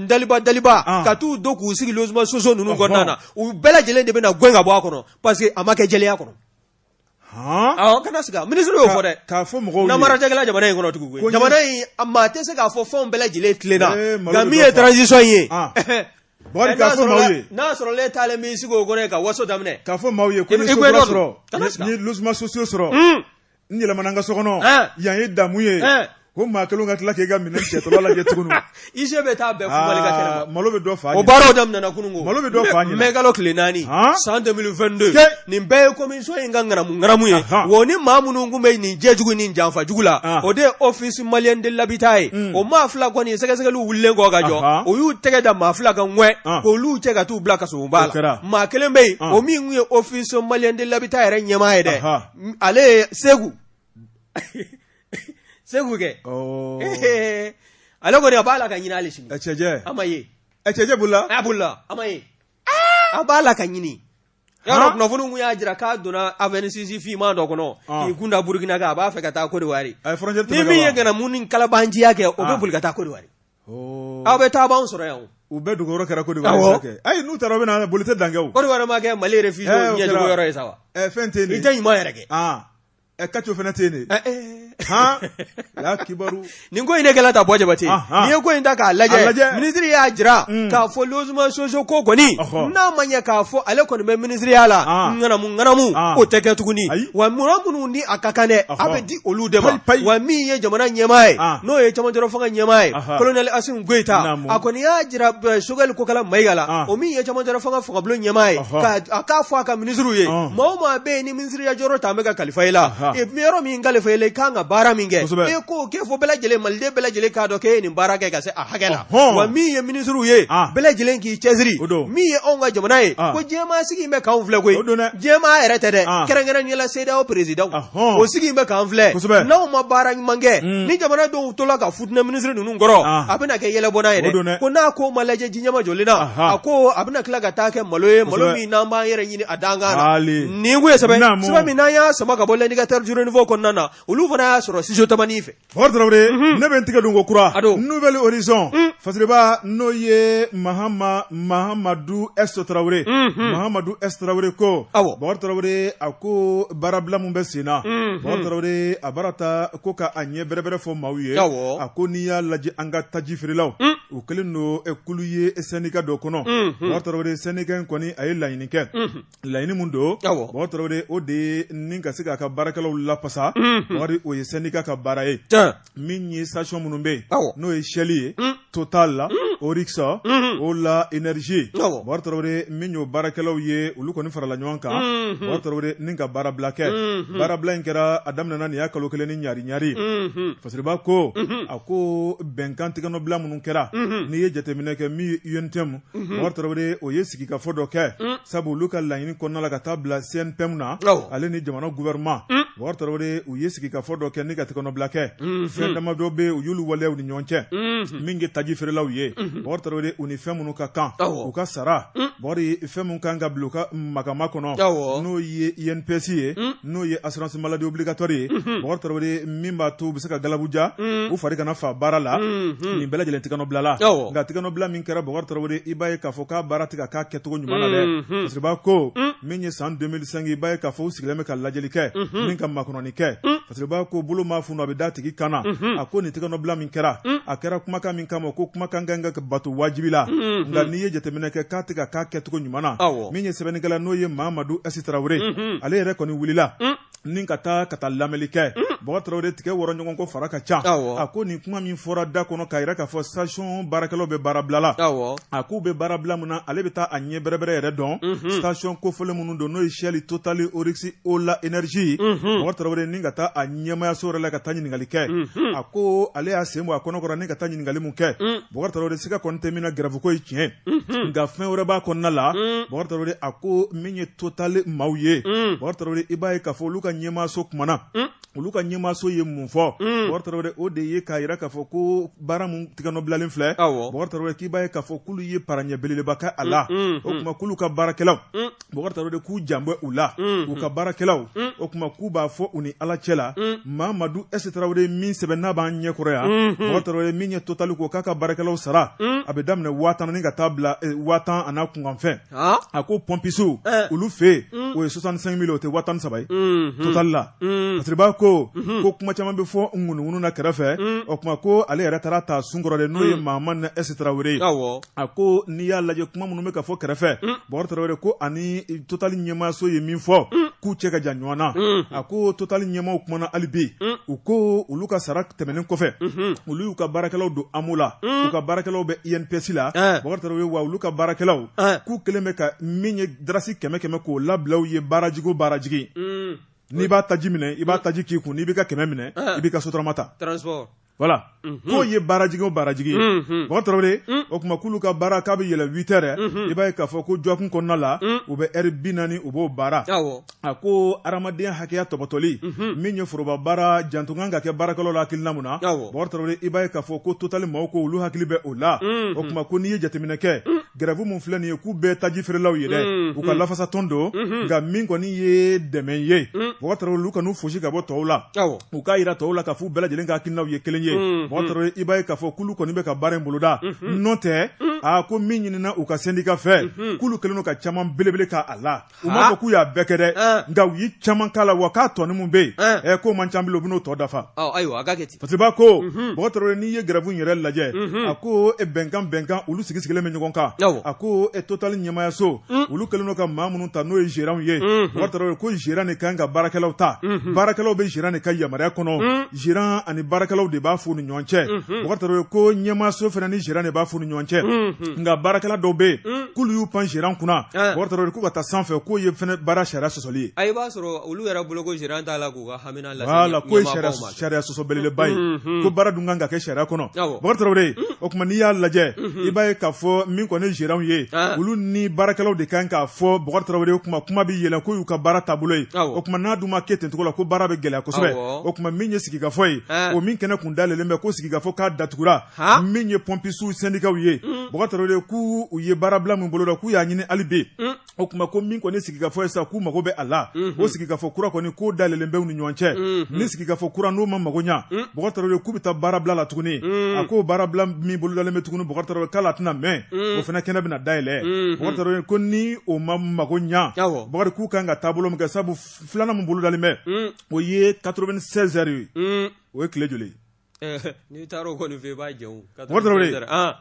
daliba daliba ka t'u don k'u sigi logement sociaux ninnu kɔnɔna na u bɛɛ lajɛlen de bɛna na gɛn ka bɔ a kɔnɔ parce que a ma kɛ jɛlenya kɔnɔ kana siga minisiri y'o fɔ dɛ k'a fɔ mɔgɔw namara tɛ kɛ la jamana in kɔnɔ tugun jamana in a maa tɛ se k'a fɔ fɛnw bɛɛ lajɛlen tilenna nka min ye transition ye b'a kan k'a fɔ maaw ye n'a sɔrɔ e taalen b'i sigi o kɔnɔ ka waso daminɛ k'a fɔ maaw ye ko n ye sokura sɔrɔ n ye logement sociaux sɔrɔ n yɛlɛmana n ka so kɔnɔ yan ye damu ye ko maa kelen ka tila k'i ka minɛn cɛtɔla lajɛ tuguni huissier bɛ taa bɛɛ fubali ka kɛnɛma malo bɛ dɔ fa ɲɛ o baaraw daminɛna kununko malo bɛ dɔ fa ɲɛ mɛkalo tile naani san 2022 nin bɛɛ ye commission in ka ŋanamu ŋanamu ye wo ni maa minnu tun bɛ nin jɛjugu ni janfa jugu la o de ye office malien de l'habitat ye o maa fila kɔni sɛgɛsɛgɛli wulilen kɔ ka jɔ o y'u tɛgɛ da maa fila kan ŋɛ k'olu cɛ ka taa u bila kasobonba la maa kelen bɛ yen o min tun ye office malien de l'habitat yɛrɛ ɲɛmaa ye dɛ ale ye Seku Seku kɛ ale kɔni a b'a la ka ɲini hali sini cɛ a ma ye cɛ bolila a bolila a ma ye a b'a la ka ɲini Yɔrɔ kunnafoni tun y'a jira k'a donna Avensis finman dɔ kɔnɔ k'i kunda Burukina kan a b'a fɛ ka taa Côte d'Ivoire ni min ye ŋanamu ni kalabanciya kɛ o bɛ boli ka taa Côte d'Ivoire aw bɛ taa anw sɔrɔ yan u bɛɛ dogoyɔrɔ kɛra Côte d'Ivoire ayi n'u taara u bɛ na boli tɛ dan kɛ Côte d'Ivoire ma kɛ mali réfugié yɔrɔ ye sa wa fɛn tɛ ɲuman yɛrɛ kɛ ɛ kaco fana tɛ yen de eh, eh. han la kibaru nin ko in ne kɛla ta bɔ jabate ah, ah. n'i ye ko in ta k'a lajɛ lajɛ. minisiri y'a jira mm. k'a fɔ logement sociaux ko kɔni Ɔhɔ. n'a ma ɲɛ k'a fɔ ale kɔni bɛ minisiriya la Ah. ŋanamu ŋanamu Ah. o tɛ kɛ tuguni Ayi. wa mɔgɔ minnu ni a ka kan dɛ a Ɔhɔ. bɛ di olu de ma Payi, payi. wa min ye jamana ɲɛmaa ye Ah. n'o ye cɛmancɛrɔ fanga ɲɛmaa ye Aha. kolonɛli asimu goyita Naamu. a kɔni y'a jira eh, sogɛli kokala mayiga la Ah. o min ye cɛmancɛrɔ fanga fangabulon ɲɛmaa ye Ɔhɔ. k'a k'a fɔ a ka minisiriw ye Ah. maa o maa bɛ yen ni yɔrɔ ta an bɛ ka kalifa i la yɔrɔ min kalifa i la i kan ka baara min kɛ e k'o kɛ fɔ bɛɛ lajɛlen maliden bɛɛ lajɛlen k'a dɔn k'e ye nin baara kɛ ka se a hakɛ la wa min ye minisiriw ye bɛɛ lajɛlen k'i cɛsiri min ye anw ka jamana ye ko diɲɛmaa sigilen bɛ k'an filɛ koyi diɲɛmaa yɛrɛ tɛ dɛ kɛrɛnkɛrɛnnenya la CEDEAO présidentw sigilen bɛ k'an filɛ n'anw ma baara ɲuman kɛ mm. ni jamana dɔw tola ka futinɛ minisiri ninnu kɔrɔ a bɛna kɛ yɛlɛbɔna ye dɛ ko n'a ko ma lajɛ ji ɲɛmajɔlen na a ko a bɛna tila ka taa kɛ malo ye malo min n'an b'an yɛrɛ ɲini a dankan na Nin ko ye sɛbɛn sɛbɛn min n'an y'a sama ka bɔ l'Indicateur du Renouveau kɔnɔna na olu fana y'a sɔrɔ Studio Tamani fɛ Bɔkari Tarawele ne bɛ n tigɛ don ko kura Nouvel Horizon Fasiriba n'o ye Mahamadu S Tarawele Mahamadu S Tarawele ko Bɔkari Tarawele a ko baarabila min bɛ senna Bɔkari Tarawele a baara ta ko k'a ɲɛ bɛrɛbɛrɛ fɔ maaw ye a ko n'i y'a lajɛ an ka taji feerelaw u kɛlen don kulu ye syndicat dɔ kɔnɔ Tarawele syndicat in kɔni a ye laɲini kɛ laɲini min don Bɔkari Tarawele o de ye ni ka se k'a ka baarakɛlaw lafasa Bɔkari o ye syndicat ka baara ye min ye station minnu bɛ yen n'o ye Shell ye Total Oryx Ola Énergie Bɔkari Tarawele min y'o baarakɛlaw ye olu kɔni farala ɲɔgɔn kan Bɔkari Tarawele ni ka baarabila kɛ baarabila in kɛra a daminɛna nin y'a kalo kelen ni ɲari ɲari Fasiriba ko a ko bɛnkan tɛgɛnɔbila minnu kɛra n'i ye jateminɛ kɛ min ye UNTM Bɔkari Tarawele o ye sigikafɔ dɔ kɛ sabu olu ka laɲini kɔnɔna la ka taa bila CNPM na ale ni jamana gouvernement Bɔkari Tarawele u ye sigikafɔ dɔ kɛ ni ka tɛgɛnɔbila kɛ fɛn dama dɔ bɛ u y'olu waleya ni ɲɔgɔn cɛ min ye taji feerelaw ye Bɔkari Tarawele u ni fɛn minnu ka kan u ka sara fɛn minnu kan ka bila u ka makama kɔnɔ n'o ye INPS ye n'o ye assurance maladie obligatoire ye Bɔkari Tarawele min b'a to u bɛ se ka galabuja u fari kana fa baara la nin bɛɛ lajɛlen tɛgɛnɔbilala nka tɛgɛnɔbila min kɛra Bɔkari Tarawele i b'a ye k'a fɔ k'a baara tɛ ka k'a kɛcogo ɲuman na dɛ, unhun, Fasiriba ko min ye san 2005 i b'a ye k'a fɔ u sigilen bɛ ka lajɛli kɛ, unhun, ni ka makɔnɔni kɛ, un, Fasiriba ko bolo maa funu a bɛ d'a tigi kan na, unhun, a ko nin tɛgɛnɔbila min kɛra, un, a kɛra kumakan min kama ko kumakan ka kan ka bato wajibi la, unhun, nka n'i ye jateminɛ kɛ k'a tɛ ka k'a kɛcogo ɲuman na, awɔ, min ye sɛbɛnnikɛla n'o ye Mamadu S Tarawele, unhun, ale yɛrɛ kɔni wulila, un ni ka taa ka taa lamɛnli kɛ mm. Bɔkari Tarawele tigɛ wɔrɔ ɲɔgɔn kɔ fara ka ca a ko nin kuma min fɔra da kɔnɔ k'a yira k'a fɔ station baarakɛlaw bɛ baarabila la a k'u bɛ baarabila min na ale bɛ taa a ɲɛ bɛrɛbɛrɛ yɛrɛ dɔn mhm. station kofɔlen minnu don n'o ye Shell Total Oryx Ola Énergie mhm. Bɔkari Tarawele ni ka taa a ɲɛmayaso yɛrɛ la ka taa ɲininkali kɛ mhm. a ko ale y'a sen bɔ a kɔnɔkɔrɔ ni ka taa ɲininkali min kɛ mm. Bɔkari Tarawele siga kɔni tɛ min na grève ko ye tiɲɛ nka fɛn wɛrɛ b'a kɔnɔna la mm. Bɔkari Tarawele a ko min ye totali maaw ye bɔgɔ tarawele i b'a ye k'a fɔ olu ka ɲɛmaaso kumana olu ka ɲɛmaaso ye mun fɔ bɔgɔ tarawele o de ye k'a jira k'a fɔ ko baara min tɛgɛnɔbilalen filɛ bɔgɔ tarawele k'i b'a ye k'a fɔ k'olu ye pa ɲɛ belebeleba kɛ a la o tuma k'olu ka baarakɛlaw bɔgɔ tarawele k'u jan bɛ u la u ka baarakɛlaw o tuma k'u b'a fɔ u ni ala cɛ la mamadu esi tarawele min sɛbɛn n'a b'an ɲɛkɔrɔ yan bɔgɔ tarawele min ye totali ko k'a ka baarakɛlaw sara a bɛ daminɛ waa tan ni ka taa bila waa tan ani kunkanfɛn a ko pɔnpisiw olu fɛ yen o ye soixante-cinq mille o tɛ waa tan ni saba ye totali la parce que b'a ko ko kuma caman bɛ fɔ ŋunuŋunu na kɛrɛfɛ o tuma ko ale yɛrɛ taara ta sunkɔrɔ de n'o ye mamadu esi tarawele ye a ko n'i y'a lajɛ kuma minnu bɛ ka fɔ kɛrɛfɛ bɔgɔ tarawele ko ani totali ɲɛmaaso ye min fɔ k'u cɛ ka jan ɲɔgɔn na a ko totali ɲɛmaaw kumana hali bi u ko olu ka sara tɛmɛnen kɔfɛ olu y'u ka baarakɛlaw don amo la u ka baarakɛlaw bɛ inps la ye wa olu ka baarakɛlaw k'u kɛlen bɛ ka min ye darasi kɛmɛ kɛmɛ k'o labila u ye baarajigi o baarajigi n'i b'a taji minɛ i b'a taji k'i kun n'i b'i ka kɛmɛ minɛ i b'i ka sotarama ta voilà k'o ye baarajigi o baarajigi bɔgɔ tarawele o tuma k'olu ka baara k'a bɛ yɛlɛ huit heures i b'a ye k'a fɔ ko jɔkun kɔnɔna la u bɛ heure binaani u b'o baara a ko adamadenya hakɛya tɔpɔtɔli min ye foroba baara janto kan ka kɛ baarakɛlaw la hakilina min na bɔgɔ tarawele i b'a ye k'a fɔ ko totali maaw ko olu hakili bɛ o la o tuma ko n'i ye jateminɛ kɛ grève min filɛ nin ye k'u bɛɛ taji feerelaw ye dɛ u ka lafasa tɔn don nka min kɔni ye dɛmɛ ye bɔgɔ tarawele olu kan'u fosi ka bɔ tɔw la u k'a jira tɔw la k'a fɔ u bɛɛ lajɛlen ka hakilinaw ye kelen ye bɔgɔ tarawele i b'a ye k'a fɔ k'olu kɔni bɛ ka baara in boloda n'o tɛ a ko min ɲinina u ka sɛndika fɛ k'olu kɛlen don ka caman belebele k'a la u m'a fɔ k'u y'a bɛɛ kɛ dɛ nka u ye caman k'a la wa k'a tɔni min bɛ yen ɛ k'o man ca bilen u bɛn'o tɔ dafa ayiwa a ka kɛ ten parce que b'a ko bɔgɔ tarawele n'i ye grève in yɛrɛ lajɛ a ko e bɛnkan bɛnkan olu sigi sigilen bɛ ɲɔgɔn kan a ko e totali ɲɛmaayaso olu kɛlen don ka maa minnu ta n'o ye gérant ye bɔgɔ tarawele ko gérant de ka kan ka baarakɛlaw ta baarakɛlaw bɛ gérant de ka yamaruya kɔnɔ gérant ani baarakɛlaw de b'a f'u ni ɲɔgɔn cɛ bɔgɔ tarawele ko ɲɛmaaso fana ni gérant de b'a f'u ni ɲɔgɔn cɛ nka baarakɛla dɔw bɛ yen k'olu y'u pan gérant kunna bɔgɔ tarawele k'u ka taa sanfɛ k'o ye baara sariya sɔsɔli ye i b'a sɔrɔ olu yɛrɛ bolo ko gérant t'a la k'u ka hamina lase voilà k'o ye sariya sɔsɔ belebeleba ye ko baara dun kan ka kɛ sariya kɔnɔ bɔgɔ tarawele o tuma n'i y'a lajɛ i b'a ye k'a fɔ min kɔni ye gérant ye olu ni baarakɛlaw de kan k'a fɔ bɔgɔ tarawele o tuma kuma bɛ yɛlɛ k'o y'u ka baara taabolo ye o tuma n'a dun ma kɛ ten cogo la ko baara bɛ gɛlɛya kosɛbɛ o tuma min ye sigikafɔ ye o min kɛnɛ kun dalen bɛ ko sigikafɔ k'a datugura min ye pɔnpisiw sendikaw ye bɔgɔta k'u u ye baarabila min boloda k'u y'a ɲini hali bi o tuma ko min kɔni sigikafɔ ye sa k'u mago bɛ a la o sigikafɔ kura kɔni k'o dalen bɛ u ni ɲɔgɔn cɛ ni sigikafɔ kura n'o ma mago ɲɛ bɔgɔta k'u bɛ taa baarabila la tuguni a ko baarabila min bolo dalen bɛ tuguni bɔgɔta k'a la tɛna mɛn o fana kɛnɛ bɛna dayɛlɛn bɔgɔta ko ni o ma mago ɲɛ k'u kan ka taabolo min kɛ sabu filanan min bolo dalen bɛ o ye 96 heures ye o ye tile joli n'i taara o kɔni fɛ i b'a jɛ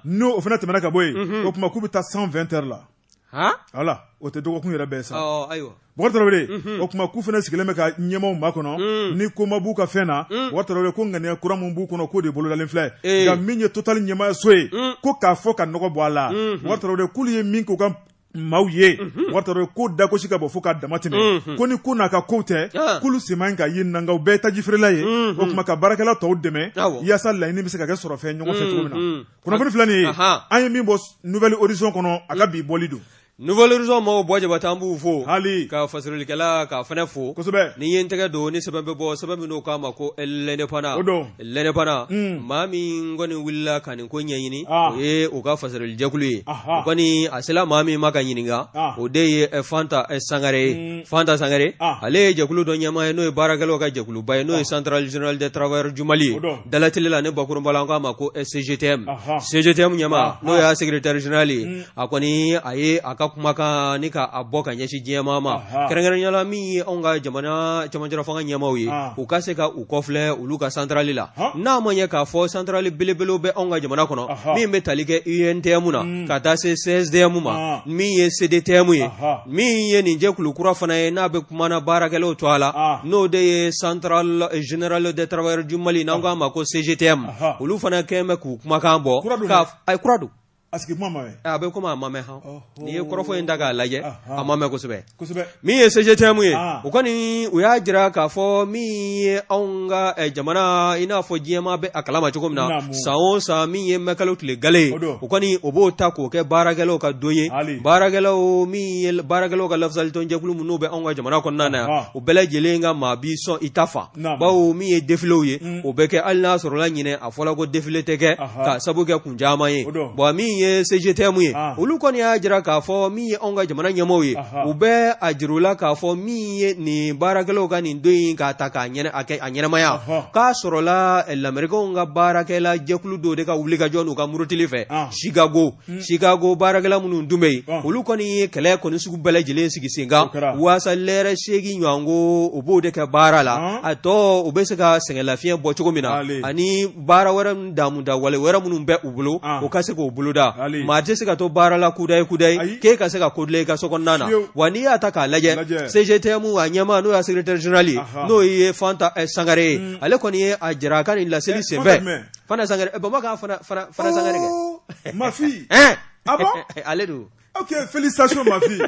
n'o o fana tɛmɛna ka bɔ yen o tuma k'u bɛ taa 120 heures la voilà o tɛ dɔgɔkun yɛrɛ bɛɛ sa o tuma k'u fana sigilen bɛ ka ɲɛmaaw makɔnɔ ni koma b'u ka fɛn na ko ŋaniya kura min b'u kɔnɔ k'o de bolodalen filɛ nka min ye Total ɲɛmaayaso ye ko k'a fɔ ka nɔgɔ bɔ a la k'olu ye min k'u ka maaw ye mhm. wata ko dagosi ka bɔ fo k'a dama tɛmɛ mhm. ko ni ko n'a ka kow tɛ ah. k'olu sema in ka ye nankaw bɛɛ tajifeerela ye mhm. o tuma ka baarakɛla tɔw dɛmɛ yaasa laɲini bɛ se ka kɛ sɔrɔ fɛn ɲɔgɔn fɛ cogo min na kunnafoni filɛ nin ye an ye min bɔ Nouvel Horizon kɔnɔ a ka bi bɔli don Nouvel Horizon mɔgɔw bɔ jabata an b'u fo hali a ka fasirilikɛla k'a fana fo kosɛbɛ ni ye n tɛgɛ don ni sɛbɛn bɛ bɔ sɛbɛn min n'u k'a ma ko l'indépendant o don l'indépendant maa min kɔni wulila ka nin ko ɲɛɲini o ye u ka fasirilijɛkulu ye kɔni a sera maa min ma k'a ɲininka o de ye fanta sangare ye fanta sangare ale ye jɛkulu dɔ ɲɛmaa ye n'o ye baarakɛlaw ka jɛkuluba ye n'o ye centrale générale des travailleurs du mali ye dalatelila ni bakurunba la an k'a ma ko cgtm cgtm ɲɛmaa n'o y'a secrétaire général ye a kɔni a ye a ka kumakan ni ka a bɔ k'a ɲɛsin diɲɛmaa ma Aha. kɛrɛnkɛrɛnnenya la min ye anw ka jamana cɛmancɛla fanga ɲɛmaaw ye Ah. u ka se ka u kɔfilɛ olu ka santarali la Ha. n'a ma ɲɛ k'a fɔ santarali belebelew bɛ anw ka jamana kɔnɔ Aha. min bɛ tali kɛ untm na Mm. ka taa se cstm ma Ah. min ye cdtm ye Aha. min ye nin jɛkulu kura fana ye n'a bɛ kuma na baarakɛlaw tɔgɔ la Ah. n'o de ye centrale eh, générale des travailleurs du mali n'an k'a ma ko cgtm Aha. olu fana kɛlen bɛ k'u kumakan bɔ Kura don k'a dɛ. f- a ye kura don A sigi kuma ma mɛn a bɛ komi a ma mɛn n'i ye kɔrɔfɔ in ta k'a lajɛ a ma mɛn kosɛbɛ min ye cgtm ye u kɔni u y'a jira k'a fɔ min ye anw ka jamana in n'a fɔ diɲɛmaa bɛ a kalama cogo min na san o san min ye mɛkalo tile galɛ ye u kɔni o b'o ta k'o kɛ baarakɛlaw ka don ye baarakɛlaw min baarakɛlaw ka lafasalitɔn jɛkulu minnu bɛ anw ka jamana kɔnɔna na yan u bɛɛ lajɛlen ka maa bi sɔn i ta fa bawo min ye défilé ye o bɛ kɛ hali n'a sɔrɔla ɲinan a fɔra ko défilé tɛ kɛ ka sabu kɛ caman ye bawo min ye CGTM ye olu kɔni y'a jira k'a fɔ min ye anw ka jamana ɲɛmɔgɔ ye u bɛ a jira u la k'a fɔ min ye nin baarakɛlaw ka nin don in k'a ta k'a a kɛ a ɲɛnɛmaya k'a sɔrɔla lamerikaw ka baarakɛla jɛkulu dɔw de ka wulikajɔ n'u ka murutili fɛ sikago sikago baarakɛla minnu dun bɛ yen olu kɔni ye kɛlɛ kɔni sugu bɛɛ lajɛlen sigi senkan waasa lɛrɛ seegin ɲɔgɔn ko u b'o de kɛ baara la a tɔ u bɛ se ka sɛgɛn lafiɲɛ bɔ cogo min na ani baara wɛrɛ min damu da wale wɛrɛ minnu bɛ u bolo u ka se k'o boloda maa tɛ se ka to baara la kudaye kudaye k'i ka se ka ko dilan i ka so kɔnɔna na wa n'i y'a ta k'a lajɛ CGTM a ɲɛmaa n'o y'a secrétaire général ye n'o ye Fanta Sangare ye mm. ale kɔni ye a jira a ka nin laseli senfɛ Fanta Sangare Baba ka Fanta Sangare kɛ. Ok, félicitations ma fille.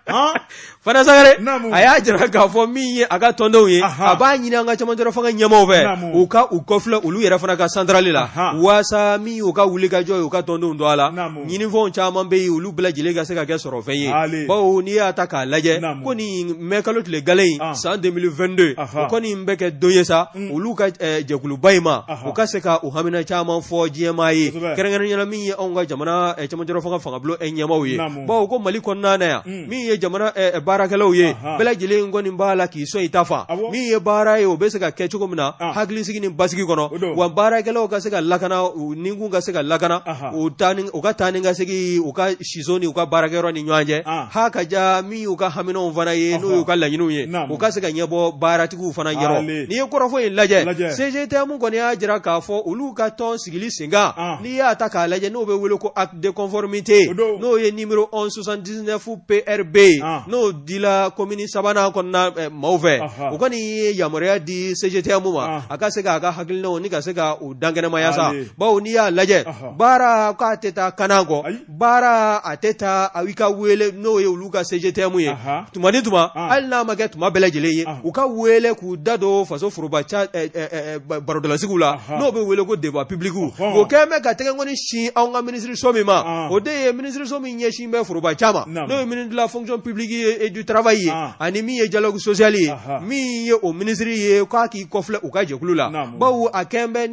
Hein? Fanta Sangare, a y'a jira k'a fɔ min ye a ka tɔndenw ye, a b'a ɲini an ka cɛmancɛla fanga ɲɛmaaw fɛ, u ka u kɔfilɛ olu yɛrɛ fana ka santarali la, waasa min y'u ka wulikajɔ ye u ka tɔndenw don a la, ɲinifɛnw caman bɛ yen olu bɛɛ lajɛlen ka se ka kɛ sɔrɔfɛn ye, bawo n'i y'a ta k'a lajɛ ko nin mɛkalo tile galen in ah. san 2022 o kɔni bɛ kɛ don ye sa mm. olu ka eh, jɛkuluba in ma u ka se ka u hamina caman fɔ diɲɛmaa ye kɛrɛnkɛrɛnnenya la min ye anw ka jamana eh, cɛmancɛla fanga ɲɛmaaw ye bawo ko mali kɔnɔna yan min ye jamana baarakɛlaw ye bɛɛ lajɛlen kɔni b'a la k'i sɔn i ta fan min ye baara ye o bɛ se ka kɛ cogo min na hakili sigi ni basigi kɔnɔ wa baarakɛlaw ka se ka lakana ni kun ka se ka lakana u u ka taa ni ka segin u ka siso ni u ka baarakɛyɔrɔ ni ɲɔgɔn cɛ ha ka ja min y'u ka haminɛw fana ye n'o y'u ka laɲiniw ye u ka se k'a ɲɛbɔ baaratigiw fana yɔrɔ n'i ye kɔrɔfɔ in lajɛ CGTM kɔni y'a jira k'a fɔ olu ka tɔn sigili senkan n'i y'a ta k'a lajɛ n'o bɛ wele ko acte de conformité n'o ye numéro 1179 PRB ye n'o dila kɔmini sabanan kɔnɔna maaw fɛ u kɔni ye yamaruya di CGTM ma a ka se k'a ka hakilinaw ni ka se ka u dankɛnɛmaya sa bawo n'i y'a lajɛ baara k'a tɛ taa kan kɔ baara a tɛ taa a ka weele n'o ye olu ka CGTM ye tuma ni tuma hali n'a ma kɛ tuma bɛɛ lajɛlen ye u ka weele k'u da don faso foroba barodalasigiw la n'o bɛ weele ko débat public o kɛlen bɛ ka tɛgɛ kɔni sin anw ka minisiririso min ma o de ye minisiririso min ɲɛsin bɛ foroba caman ma n'o ye ministère de la fonction publique et du travail ye ani min ye dialogue social ye min ye o minisiriri ye k'a k'i kɔfilɛ u ka jɛkulu la bawo a kɛlen bɛ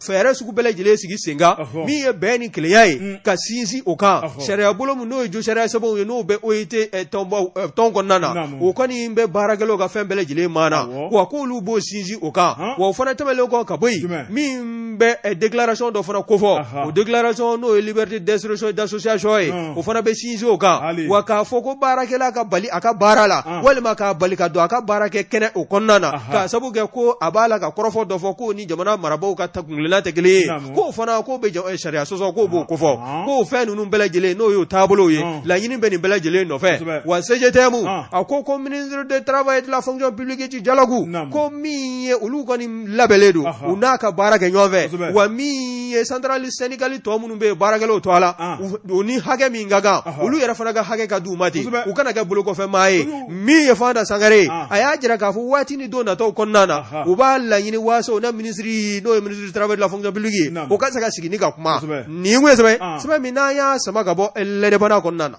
fɛɛrɛ sugu bɛɛ lajɛlen sigi senkan min ye bɛn ni kelenya ye ka sinsin o kan sariya bolo min n'o ye jo sariya sɛbɛnw ye n'o bɛ OIT tɔn kɔnɔna na o kɔni bɛ baarakɛlaw ka fɛn bɛɛ lajɛlen ma na wa k'olu b'o sinsin o kan wa o fana tɛmɛnlen kɔ ka bɔ yen min bɛ déclaration dɔ fana kofɔ o déclaration n'o ye liberté d'expression et d'association ye o fana bɛ sinsin o kan wa k'a fɔ ko baarakɛla ka bali a ka baara la walima k'a bali ka don a ka baarakɛ kɛnɛ o kɔnɔna na k'a sabu kɛ ko a b'a la ka kɔrɔfɔ dɔ fɔ ko ni jamana marabagaw ka kuntilenna tɛ kelen ye k'o fana k'o bɛ sariya sɔsɔ k'o b'o kofɔ k'o fɛn ninnu bɛɛ lajɛlen n'o y'o taabolo ye laɲini bɛ nin bɛɛ lajɛlen nɔfɛ wa CGTM a ko ministre de travail et de la fonction publique du dialogue ko min ye olu kɔni labɛnlen don u n'a ka baara kɛ ɲɔgɔn fɛ wa min ye centrale syndicale tɔ minnu bɛ baarakɛlaw tɔgɔ la u ni hakɛ min ka kan olu yɛrɛ fana ka hakɛ ka di u ma ten u kana kɛ bolokɔfɛ maa ye min ye fanta sangare a y'a jira k'a fɔ waati ni don nataw kɔnɔna na u b'a laɲini waasa u ni minisiri n'o ye ministre du travail de la fonction publique u ka se ka sigi ni ka kuma nin kun ye sɛbɛn sɛbɛn min n'an y'a sama ka bɔ l'Indépendant kɔnɔna na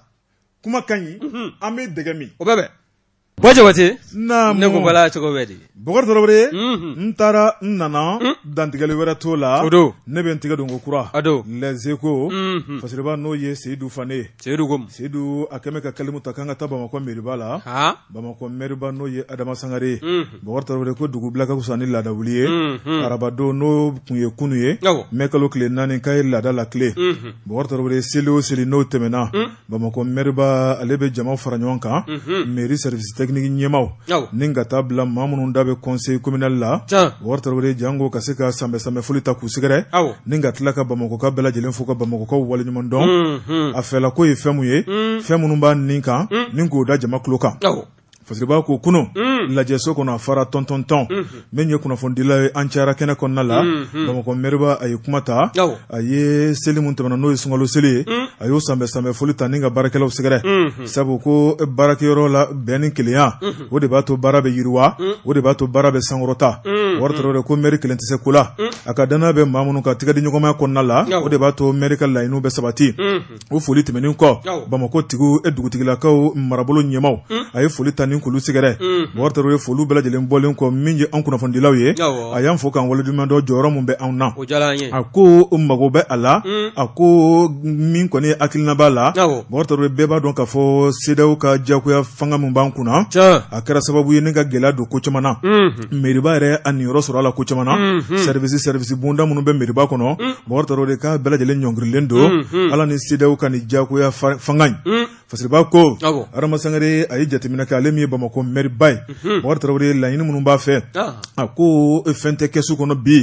kuma ka ɲi an bɛ dɛgɛ min o bɛ bɛn Bɔ jabate ne ko bala cogo bɛ di bokar traore n taara n nana dantigɛli wɛrɛ t'o la ne bɛ n tɛgɛ don kokura les échos fasiriba n'o ye seyidu fane seyidu a kɛlen ka kalimu ta k'an ka taa bamakɔ mɛriba la bamakɔ mɛriba n'o ye adama sangare bokar traore ko dugu bila ka fisa ni laada wuli ye arabadon n'o kun ye kunun ye mɛ kalo tile naani k'a ye laada la tile bokar traore seli o seli n'o tɛmɛna bamakɔ mɛriba ale bɛ jama fara ɲɔgɔn kan mɛri service technique ɲɛmaw ni ka taa bila maa minnu da bɛ conseil communal la bokar traore janko ka se ka sanbɛ sanbɛ foli ta k'u sɛgɛrɛ ni ka tila ka bamakɔkaw bɛɛ lajɛlen fo ka bamakɔkaw waleɲuman dɔn a fɛla ko ye fɛn mun ye fɛn minnu b'a nin kan ni k'o da jama kulo kan Fasiriba ko kunun lajɛso kɔnɔ a fara tɔntɔntɔn min ye kunnafonidila ye an cayara kɛnɛ kɔnɔna la bamakɔ mɛriba a ye kuma ta a ye seli min tɛmɛna n'o ye sunkalo seli ye a y'o sanbɛ sanbɛ foli ta ni ka baarakɛlaw sɛgɛrɛ sabu ko baarakɛyɔrɔ la bɛn ni kelenya o de b'a to baara bɛ yiriwa o de b'a to baara bɛ sankɔrɔta bokar traore ko mɛri kelen tɛ se ko la a ka danaya bɛ maa minnu ka tɛgɛ di ɲɔgɔnma kɔnɔna la o de b'a to mɛri ka laɲiniw bɛ sabati o foli tɛmɛnen kɔ bamakɔ tigiw e dugutigilakaw marabolo ɲɛmaw hmm? a ye foli ta ni k'olu sɛgɛrɛ hmm. bokar traore foli bɛɛ lajɛlen bɔlen kɔ min ye an kunnafonidilaw ye a y'an fo k'an waleɲuman dɔn jɔyɔrɔ min bɛ anw na a ko mago bɛ a la hmm. a ko min kɔni hakilina b'a la bokar traore bɛɛ b'a dɔn k'a fɔ CEDEAO ka jagoya fanga min b'an kunna a kɛra sababu ye ni ka gɛlɛya don ko caman na mɛriba yɛrɛ a niyɔrɔ sɔrɔ a la ko caman na service service bonda minnu bɛ mɛriba kɔnɔ bokar traore k'a bɛɛ lajɛlen ɲɔngirilen don ala ni CEDEAO ka nin jagoya fanga in fasiriba ko adama sangare a ye jateminɛ kɛ ale min ye bamakɔ mɛriba ye bokar traore laɲini minnu b'a fɛ a ko fɛn tɛ kɛsu kɔnɔ bi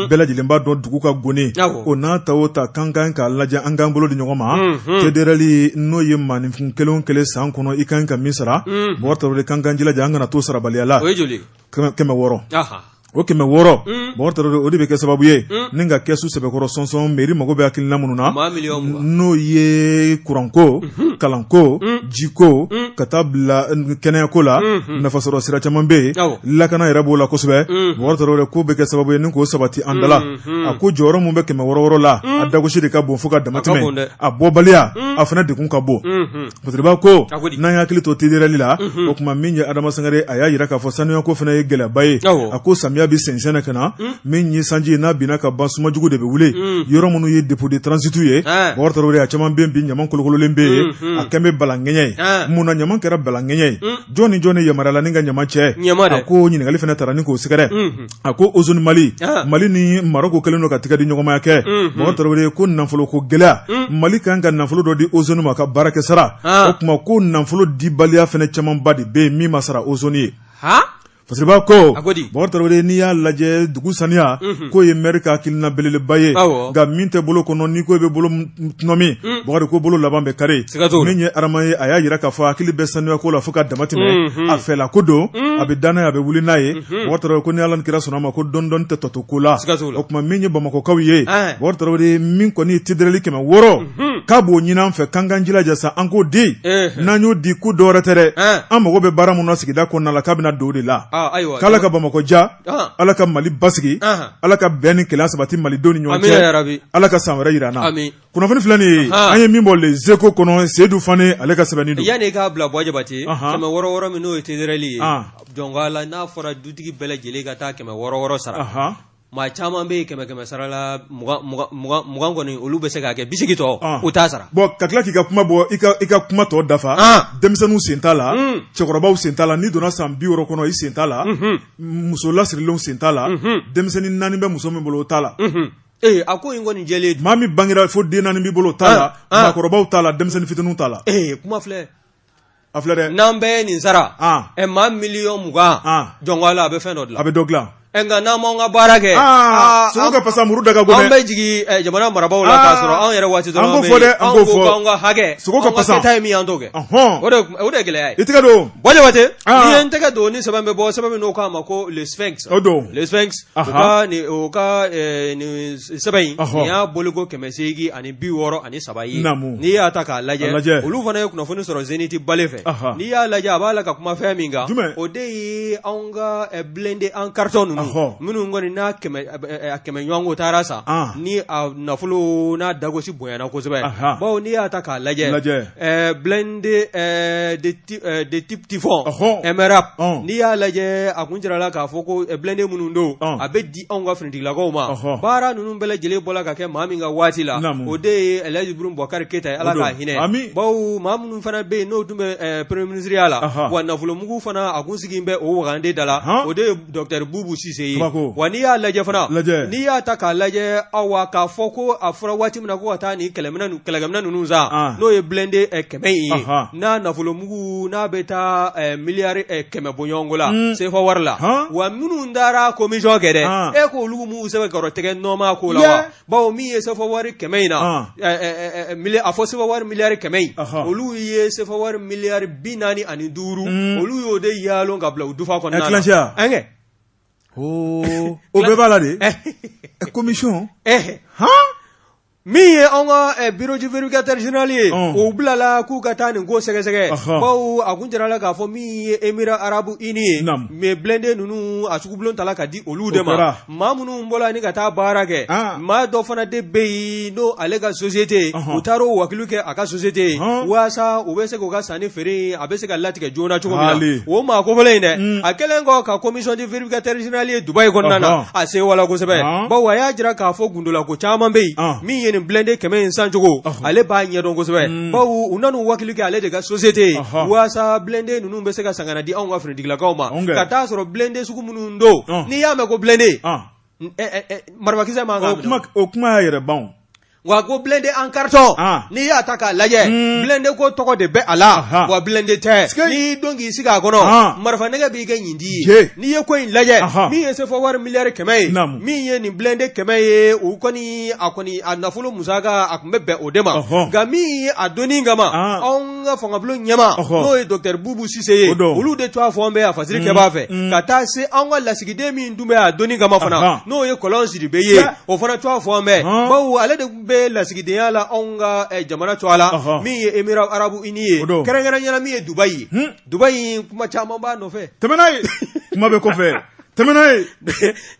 bɛɛ lajɛlen b'a dɔn dugu ka goni o n'a ta o ta an ka kan k'a lajɛ an k'an bolo di ɲɔgɔn ma tɛdli n'o ye mainfin kelen o kelen san kɔnɔ i kan ka min sara bokari tarawele k'an k'an jilaja an kana to sarabaliya la kɛmɛ wɔɔrɔ o kɛmɛ wɔɔrɔ bokari tarawele o de bɛ kɛ sababu ye ni ka kɛsu sɛbɛkɔrɔ sɔnsɔn mɛri mago bɛ hakilina minnu na n'o ye kuranko kalanko jiko ka taa bila kɛnɛyako la nafasɔrɔ sira caman bɛ yen lakana yɛrɛ b'o la kosɛbɛ bokari tarawele k'o bɛ kɛ sababu ye ni k'o sabati an da la Hmm. a ko jɔyɔrɔ min bɛ kɛmɛ wɔɔrɔ wɔɔrɔ la hmm. a dagosi de ka bon fo ka damatɛmɛ a bɔbaliya hmm. a fana degun ka bon fasiriba ko n'an ye hakili to tederali la o tuma min ye adama sangare a y'a yira k'a fɔ sanuyako fana ye gɛlɛyaba ye a ko samiya bɛ sɛnsɛn na ka na min ye sanji n'a binna ka ban sumajugu de bɛ wuli yɔrɔ minnu ye depo de transitu ye bokari tarawele a caman bɛ bi ɲama kolokololen bɛ yen a kɛn bɛ balankɛɲɛ ye mun na ɲama kɛra balankɛɲɛ ye jɔn ni jɔn ni yamaruyala ni ka ɲama cɛ a ko ɲininkali fana taara ni k'o sɛgɛrɛ a ko ozɔn mali mali ni maroko kɛlen don ka tigɛ di ɲɔgɔnmaya kɛ bokari tarawele ko nafolo ko gɛlɛya mali kan ka nafolo dɔ di ozɔn ma ka baarakɛ sara o tuma ko nafolo dibaliya fana camanba de bɛ yen min ma sara ozɔn ye fasiriba ko bokari tarawele n'i y'a lajɛ dugu saniya k'o ye mɛri ka hakilina belebeleba ye nka min tɛ bolo kɔnɔ n'i ko i bɛ bolo tɔnɔmi bokari ko bolo laban bɛ kari min ye adama ye a y'a jira k'a fɔ hakili bɛ sanuyako la fo ka dama tɛmɛ a fɛla ko don a bɛ da n'a ye a bɛ wuli n'a ye Hmm. Bokari tarawele ko ni ala ni kira sɔnna a ma ko dɔndɔn tɛ tɔto ko la o tuma min ye bamakɔkaw ye bokari tarawele min kɔni ye tedereli kɛmɛ wɔɔrɔ hmm. k'a b'o ɲini an fɛ k'an k'an jilaja sa an k'o di eh. n'an y'o di ko dɔwɛrɛ tɛ dɛ eh. an mago bɛ baara min na sigida kɔnɔna la k'a bɛna don o de la ah, k'ala ka bamakɔ ja ah. ala ka mali basigi ah. ala ka bɛn ni kelenya sabati malidenw ni ɲɔgɔn cɛ ala ka san wɛrɛ jira an na kunnafoni filɛ nin ye an ye min bɔ les échos kɔnɔ seyidu fane ale ka sɛbɛnni don yanni k'a bila bɔ jabate kɛmɛ wɔɔrɔ wɔɔrɔ min n'o ye tedereli ye jɔnko ala n'a fɔra dutigi bɛɛ lajɛlen ka taa kɛmɛ wɔɔrɔ wɔɔrɔ sara maa caman bɛ kɛmɛ kɛmɛ sara la mugan kɔni olu bɛ se k'a kɛ bi seegin tɔ u t'a sara bɔn ka tila k'i ka kuma bɔ i ka kuma tɔ dafa denmisɛnninw sen t'a la cɛkɔrɔbaw sen t'a la n'i donna san bi wɔɔrɔ kɔnɔ i sen t'a la muso lasirilenw sen t'a la denmisɛnnin naani bɛ muso min bolo o t'a la Ee a ko in kɔni jɛlen don, maa min bangera fo den naani b'i bolo o t'a la, an, an, maakɔrɔbaw t'a la denmisɛnnin fitininw t'a la, ee kuma filɛ, a filɛ dɛ, n'an bɛɛ ye nin sara, an, ɛ maa miliyɔn mugan, an, jɔnko Ala a bɛ fɛn dɔ dilan, a bɛ dɔ dilan, ɛ nka n'an m'an ka baara kɛ, aa sogo ka pasa muru da ka go dɛ, an bɛ jigin ɛ jamana marabaaw la k'a sɔrɔ anw yɛrɛ waati dɔrɔn, an b'o fɔ dɛ, an b'o fɔ, anw ko k'an ka hakɛ, sogo ka pasa, an ka kɛta ye min ye an t'o kɛ, ɔnhɔn, o de o de ye gɛlɛya ye, i tɛgɛ don, Bon Jabate, n'i ye n tɛgɛ don ni sɛbɛn bɛ bɔ sɛbɛn min n'o k'a ma ko le sphinx, o don, le sphinx sɛbɛn in nin y'a bɔliko kɛmɛ seegin ani bi wɔɔrɔ ani saba ye n'i y'a ta k'a lajɛ olu fana ye kunnafoni sɔrɔ Zénith Balé fɛ n'i y'a lajɛ a b'a la ka kuma fɛn min kan o de ye anw ka blende en carton ninnu minnu kɔni n'a kɛmɛ ɲɔgɔnko taara san ni a nafolo n'a dagosi bonyana kosɛbɛ baw n'i y'a ta k'a lajɛ Euh, de type Typhoon MRAP n'i y'a lajɛ a kun jirala k'a fɔ ko eh, blende minnu don a bɛ di anw ka finitigilakaw ma baara ninnu bɛɛ lajɛlen bɔla ka kɛ maa min ka waati la o de ye Elhaji Ibrahim Boubacar Keita ye Ala ka hinɛ bawo maa minnu fana bɛ yen n'o tun bɛ eh, premier ministre ya la wa nafolomugu fana a kun sigilen bɛ o wagande da la o de ye Docteur Boubou Cisse ye, Tubako, wa n'i y'a lajɛ fana, lajɛ, n'i y'a ta k'a lajɛ awa k'a fɔ ko a fɔra waati min na ko ka taa nin kɛlɛminɛn kɛlɛkɛminɛn ninnu san, an, n'o ye blindé kɛmɛ in ye, anhan, n'a nafolomugu n'a bɛ taa ɛ miliyari kɛmɛ bɔ ɲɔgɔnko la, un, CFA wari la, han, wa minnu taara commission kɛ dɛ, an, e k'olu m'u sɛbɛkɔrɔ tɛgɛ nɔma ko la wa baw min ye sefa wari kɛmɛ in na a fɔ sefa wari miliyari kɛmɛ in olu ye sefa wari miliyari bi naani ani duuru mm. olu y'o de yaalon ka bila u dufa kɔnɔna na ɛnkɛ o bɛɛ b'a la de commission min ye an ka eh, bureau du vérificateur général ye o bilala k'u ka taa nin ko sɛgɛsɛgɛ baw a kun jirala k'a fɔ min ye Émirats Arabes Unis ye mais blende ninnu a sugubulon tala ka di olu de ma maa minnu bɔla ni ka taa baara kɛ maa dɔ fana de bɛ yen n'o ale ka sosite u taara u wakilu kɛ a ka sosite yen walasa u bɛ se k'u ka sannifeere a bɛ se ka latigɛ joona cogo min o maa ko in dɛ mm. a kɛlen kɔ ka commission du vérificateur général ye Dubaï kɔnɔna na a sɛwala kosɛbɛ baw a y'a jira k'a fɔ gundolako caman bɛ yen min ye nin blende kɛmɛ in sancogo ale b'a ɲɛdɔn kosɛbɛ mm. baw u nan'u wakilu kɛ ale de ka sosite yen walasa blende ninnu bɛ se ka san ka na di anw ka finitigilakaw ma ka t'a sɔrɔ blende minnu don ɔn n'i y'a mɛn ko blende ɔn n- ɛ- ɛ- ɛ, marifakisɛ mankan kuma o kuma y'a yɛrɛ ban o wa ko blende en ɔn carton n'i y'a ta k'a lajɛ Mm. blende ko tɔgɔ de bɛ a la Aha. wa blende tɛ Sike. n'i y'i don k'i sigi a kɔnɔ Ɔn. marifa nɛgɛ b'i kɛ ɲintin ye Je. n'i ye ko in lajɛ Aha. min ye sefa wari miliyari kɛmɛ ye Naamu. min ye nin blende kɛmɛ ye o kɔni a kɔni a nafolo musaka a tun bɛ bɛn o de ma Ɔhɔn. nka min ye a dɔnni kama Ɔn. anw ka fangabulon ɲɛmaa n'o ye Docteur Boubou Cisse ye olu de tɔgɔ fɔlen bɛ a fasiri kɛbaa fɛ ka taa se an ka lasigiden min tun bɛ a dɔnni kama fana n'o ye Kɔlɔn Sidibe ye o fana tɔgɔ fɔlen bɛ baw ale de bɛ lasigidenya la anw ka jamana tɔgɔ la min ye Émirats Arabes Unis ye kɛrɛnkɛrɛnnenya la min ye Dubaï ye Dubaï kuma caman b'a nɔfɛ tɛmɛnɛna ye kuma bɛ kɔfɛ tɛmɛna ye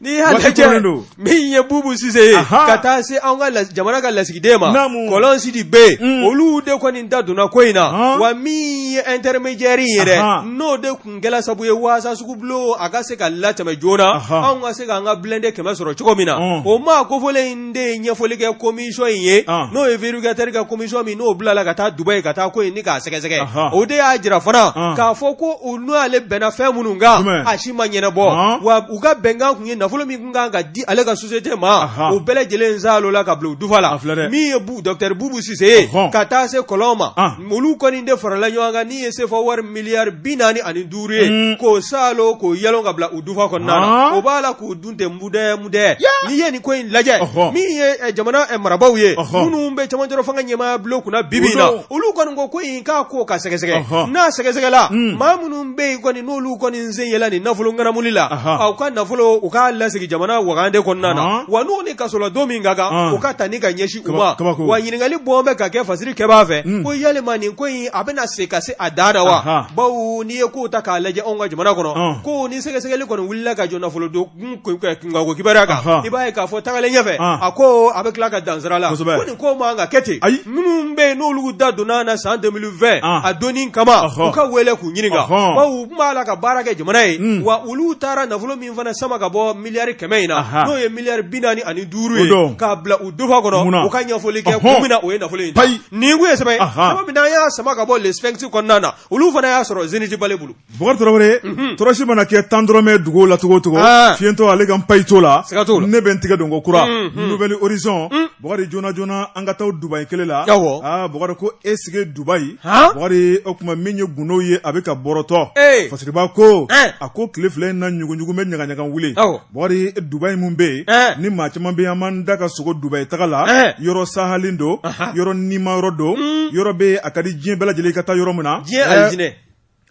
n'i y'a Waati lajɛ kɔnnen don. min ye Bubu Sise ye Aha. ka taa se an ka las- jamana ka lasigiden ma Naamu. Kɔlɔn Sidibe Mm. olu de kɔni da donna ko in na Ahan. wa min ye intermédiaire in yɛrɛ Aha. n'o de kun kɛla sabu ye waasa sugu bulon a ka se ka latɛmɛ joona Aha. anw ka se k'an ka blende kɛmɛ sɔrɔ cogo min na Ɔn. o maa kofɔlen in de ye ɲɛfɔli kɛ komisɔn in ye n'o ye vérificateur ka komisɔn min n'o bilala ka taa Dubayi ka taa ko ɲini k'a sɛgɛsɛgɛ o de y'a jira fana k'a fɔ ko u n'ale bɛnna fɛn minnu kan a si ma ɲɛnabɔ wa u ka bɛnkan tun ye nafolo min tun kan ka di ale ka sosiyete ma o bɛɛ lajɛlen salonna ka bila u dufa la min ye dɔkitɛri Bubu Sise ye ka taa se Kɔlɔn ma olu kɔni de farala ɲɔgɔn kan n'o ye sefa wari miliyari bi naani ani duuru ye k'o salon k'o yɛlɛn ka bila u dufa kɔnɔ o b'a la k'u tɛ mudɛ mudɛ n'i ye nin ko in lajɛ min ye jamana marabagaw ye minnu bɛ cɛmancɛ fanga ɲɛmaaya bulon kunna bi bi in na olu kɔni ko ko in k'a ko ka sɛgɛsɛgɛ n'a sɛgɛsɛgɛla maa minnu bɛ yen kɔni n'olu kɔni sen yelen nin nafolo ŋanamu la u ka nafolo u k'a lasegin jamana wagande kɔnɔna na wa n'u ni kaso ladon min ka kan u ka taa ni ka ɲɛsin u ma wa ɲininkali bɔ bɛ ka kɛ fasirikɛbaa fɛ ko yalima nin ko in a bɛna se ka se a dan na wa bawo n'i ye kow ta k'a lajɛ anw ka jamana kɔnɔ ko ni sɛgɛsɛgɛli kɔni la ka jɔ nafolo don i b'a ye k'a fɔ tagalen ɲɛfɛ a ko a bɛ tila ka dan sira la nin ko man ka kɛ ten ayi minnu bɛ yen n'olu da donna na san fɛ a dɔnni kama u ka wele k'u ɲininka u b'a la ka baara kɛ jamana ye hmm. wa olu taara nafolo min fana sama ka bɔ miliyari kɛmɛ in na n'o ye miliyari bi naani ani duuru ye k'a bila u dufa kɔnɔ u ka ɲɛfɔli kɛ kun min na o ye nafolo in nin ye sɛbɛn ye min y'a sama ka bɔ Le Sphinx kɔnɔna na olu fana y'a sɔrɔ Zenith Balé bolo Bɔkari Tarawele, unhun, tɔrɔsi mana kɛ tan dɔrɔmɛ ye dugu la cogo o cogo, an, fiyentɔ ale ka npayi t'o la, siga t'o la, ne bɛ n tigɛ don ko kura, unhun, Nouvel Horizon, un, Bɔkari joona joona an ka taa o Dubayi kelen la, awɔ, aa Bɔkari ko est ce que Dubayi, han, Bɔkari o tuma min ye gundo ye a bɛ ka bɔrɔtɔ, ee, Fasiriba ko, ɛɛ, a ko tile fila in na ɲuguɲugu bɛ ɲagaɲaga wuli, awɔ, Bɔkari Dubayi mun bɛ yen, ɛɛ, ni maa caman bɛ yen an b'an da ka sogo Dubayi taga la, ɛɛ, yɔrɔ sahalen don, anhan, yɔrɔ nima yɔrɔ don, un, yɔrɔ bɛ yen a ka di diɲɛ bɛɛ lajɛlen i ka taa yɔrɔ min na, diɲɛ alijinɛ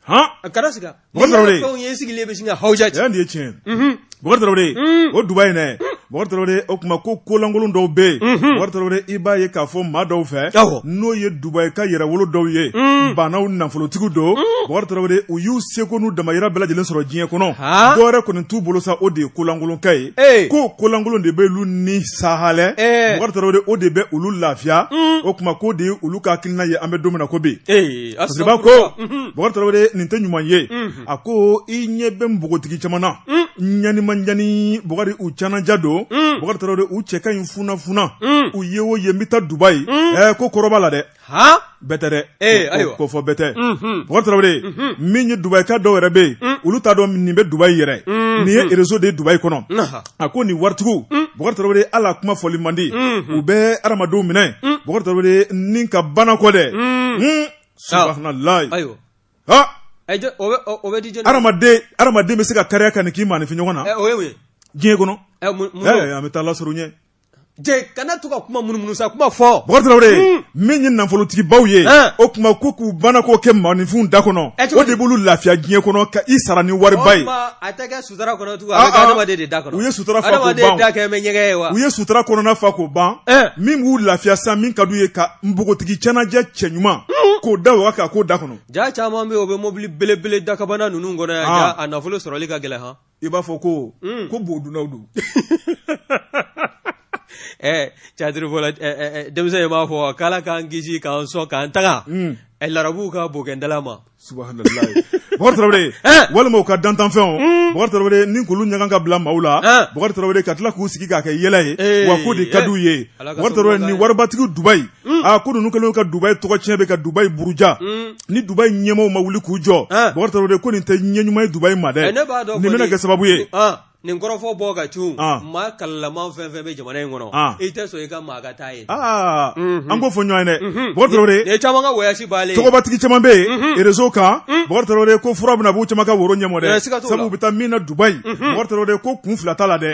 a kɛra sigi fɛnw ye sigilen bɛ sin ka hawuja cɛ nin ye tiɲɛ ye o Dubayi in na o tuma ko kolankolon dɔw bɛ yen i b'a ye k'a fɔ maa dɔw fɛ n'o ye Dubayi ka yɛrɛwolo dɔw ye baanaw nafolotigiw don u y'u seko n'u damayira bɛɛ lajɛlen sɔrɔ diɲɛ kɔnɔ dɔwɛrɛ kɔni t'u bolo sa o de ye kolankolonkɛ ye ko kolankolon de bɛ olu ni saha o de bɛ olu lafiya o tuma ko de ye olu ka hakilina ye an bɛ don min na ko bi B'a ko Bokari Tarawele nin tɛ ɲuman ye a ko i ɲɛ bɛ npogotigi caman na ɲanimanjani Bokari u canaja don Bokari Tarawele u cɛ ka ɲi funafuna u ye o ye n bɛ taa Dubayi ɛ ko kɔrɔba la dɛ bɛɛ tɛ dɛ ayiwa ko fɔ bɛɛ tɛ Bokari Tarawele min ye Dubayi ka dɔw yɛrɛ bɛ yen olu t'a dɔn nin bɛ Dubayi yɛrɛ nin ye réseau de Dubayi kɔnɔ a ko nin waritigiw mm. Bokari Tarawele Ala kuma fɔli man di mm-hmm. u bɛ adamadenw minɛ mm. Bokari Tarawele ni ka banakɔ dɛ mm. hmm. subahanallahi ayiwa ha o bɛ di jɔni adamaden adamaden bɛ se ka kariya ka nin k'i maanifin ɲɔgɔn na eh, o ye mun ye diɲɛ kɔnɔ eh, eh, an bɛ taa Ala sɔrɔ ɲɛ kana to ka kuma munumunu sa kuma fɔ Bokari Tarawele min ye nafolotigibaw ye o kuma ko k'u banakɔ kɛ maanifinw da kɔnɔ o de b'olu lafiya diɲɛ kɔnɔ ka i sara ni wariba ye u ye sutura u ye sutura kɔnɔna fa k'o ban min b'u lafiya san min ka d'u ye ka npogotigi canaja cɛ ɲuman k'o da waga k'a k'o da kɔnɔ ja caman bɛ yen o bɛ mɔbili belebele dakabana ninnu kɔnɔ a nafolo sɔrɔli ka gɛlɛn i b'a fɔ ko mm. ko bo dunnaw don eh, cadiri fɔla eh, eh, eh, denmisɛn in b'a fɔ k'Ala k'an kisi k'an sɔn k'an tanga mm. eh, larabuw ka bokɛndala ma subahanallahi Bokari Tarawele eh. walima u ka dantanfɛnw mm. Bokari Tarawele ni k'olu ɲaga ka bila maaw la eh. Bokari Tarawele ka tila k'u sigi k'a kɛ yɛlɛ ye eh, wa k'o de ka d'u ye Bokari Tarawele ni waribatigiw Dubayi aa ko ninnu kɛlen ka Dubayi tɔgɔ tiɲɛ bɛ ka Dubayi buruja ni Dubayi ɲɛmaaw ma wuli k'u jɔ Bokari Tarawele ko nin tɛ ɲɛ ɲuman ye Dubayi ma dɛ nin bɛna kɛ sababu ye nin kɔrɔfɔ bɔ ka cun maa hakililama fɛn fɛn bɛ jamana in kɔnɔ i tɛ sɔn i ka maa ka taa yen an k'o fɔ ɲɔgɔn ye dɛ Bokari Tarawele nin caman ka voyage b'aale tɔgɔbatigi caman bɛ yen réseau kan Bokari Tarawele ko fura bɛna b'u caman ka woro ɲɛmɔ dɛ sabu u bɛ taa min na Dubayi Bokari Tarawele ko kun fila t'a la dɛ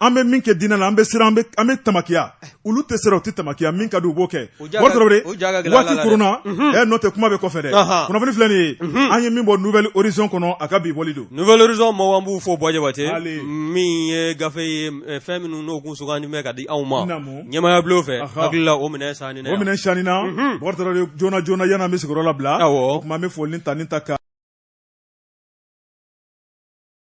an bɛ min kɛ diinɛ la an bɛ siran an bɛ tamakiya olu tɛ siran u tɛ tamakiya min ka di u b'o kɛ waati koronna ɛ n'o tɛ kuma bɛ kɔfɛ dɛ kunnafoni filɛ nin ye an ye min bɔ Nouvel Horizon kɔnɔ a ka bi bɔli don Nouvel Horizon mɔgɔw an b'u fo Buwa Jabate min ye gafe ye fɛn minnu n'o kun sugandi bɛ ka di anw ma ɲɛmaaya bulon fɛ hakili la o minɛn saani na o minɛn saani na Bokari Tarawele joona joona yanni an bɛ sigiyɔrɔ labila o tuma an bɛ foli ni tanuni ta ka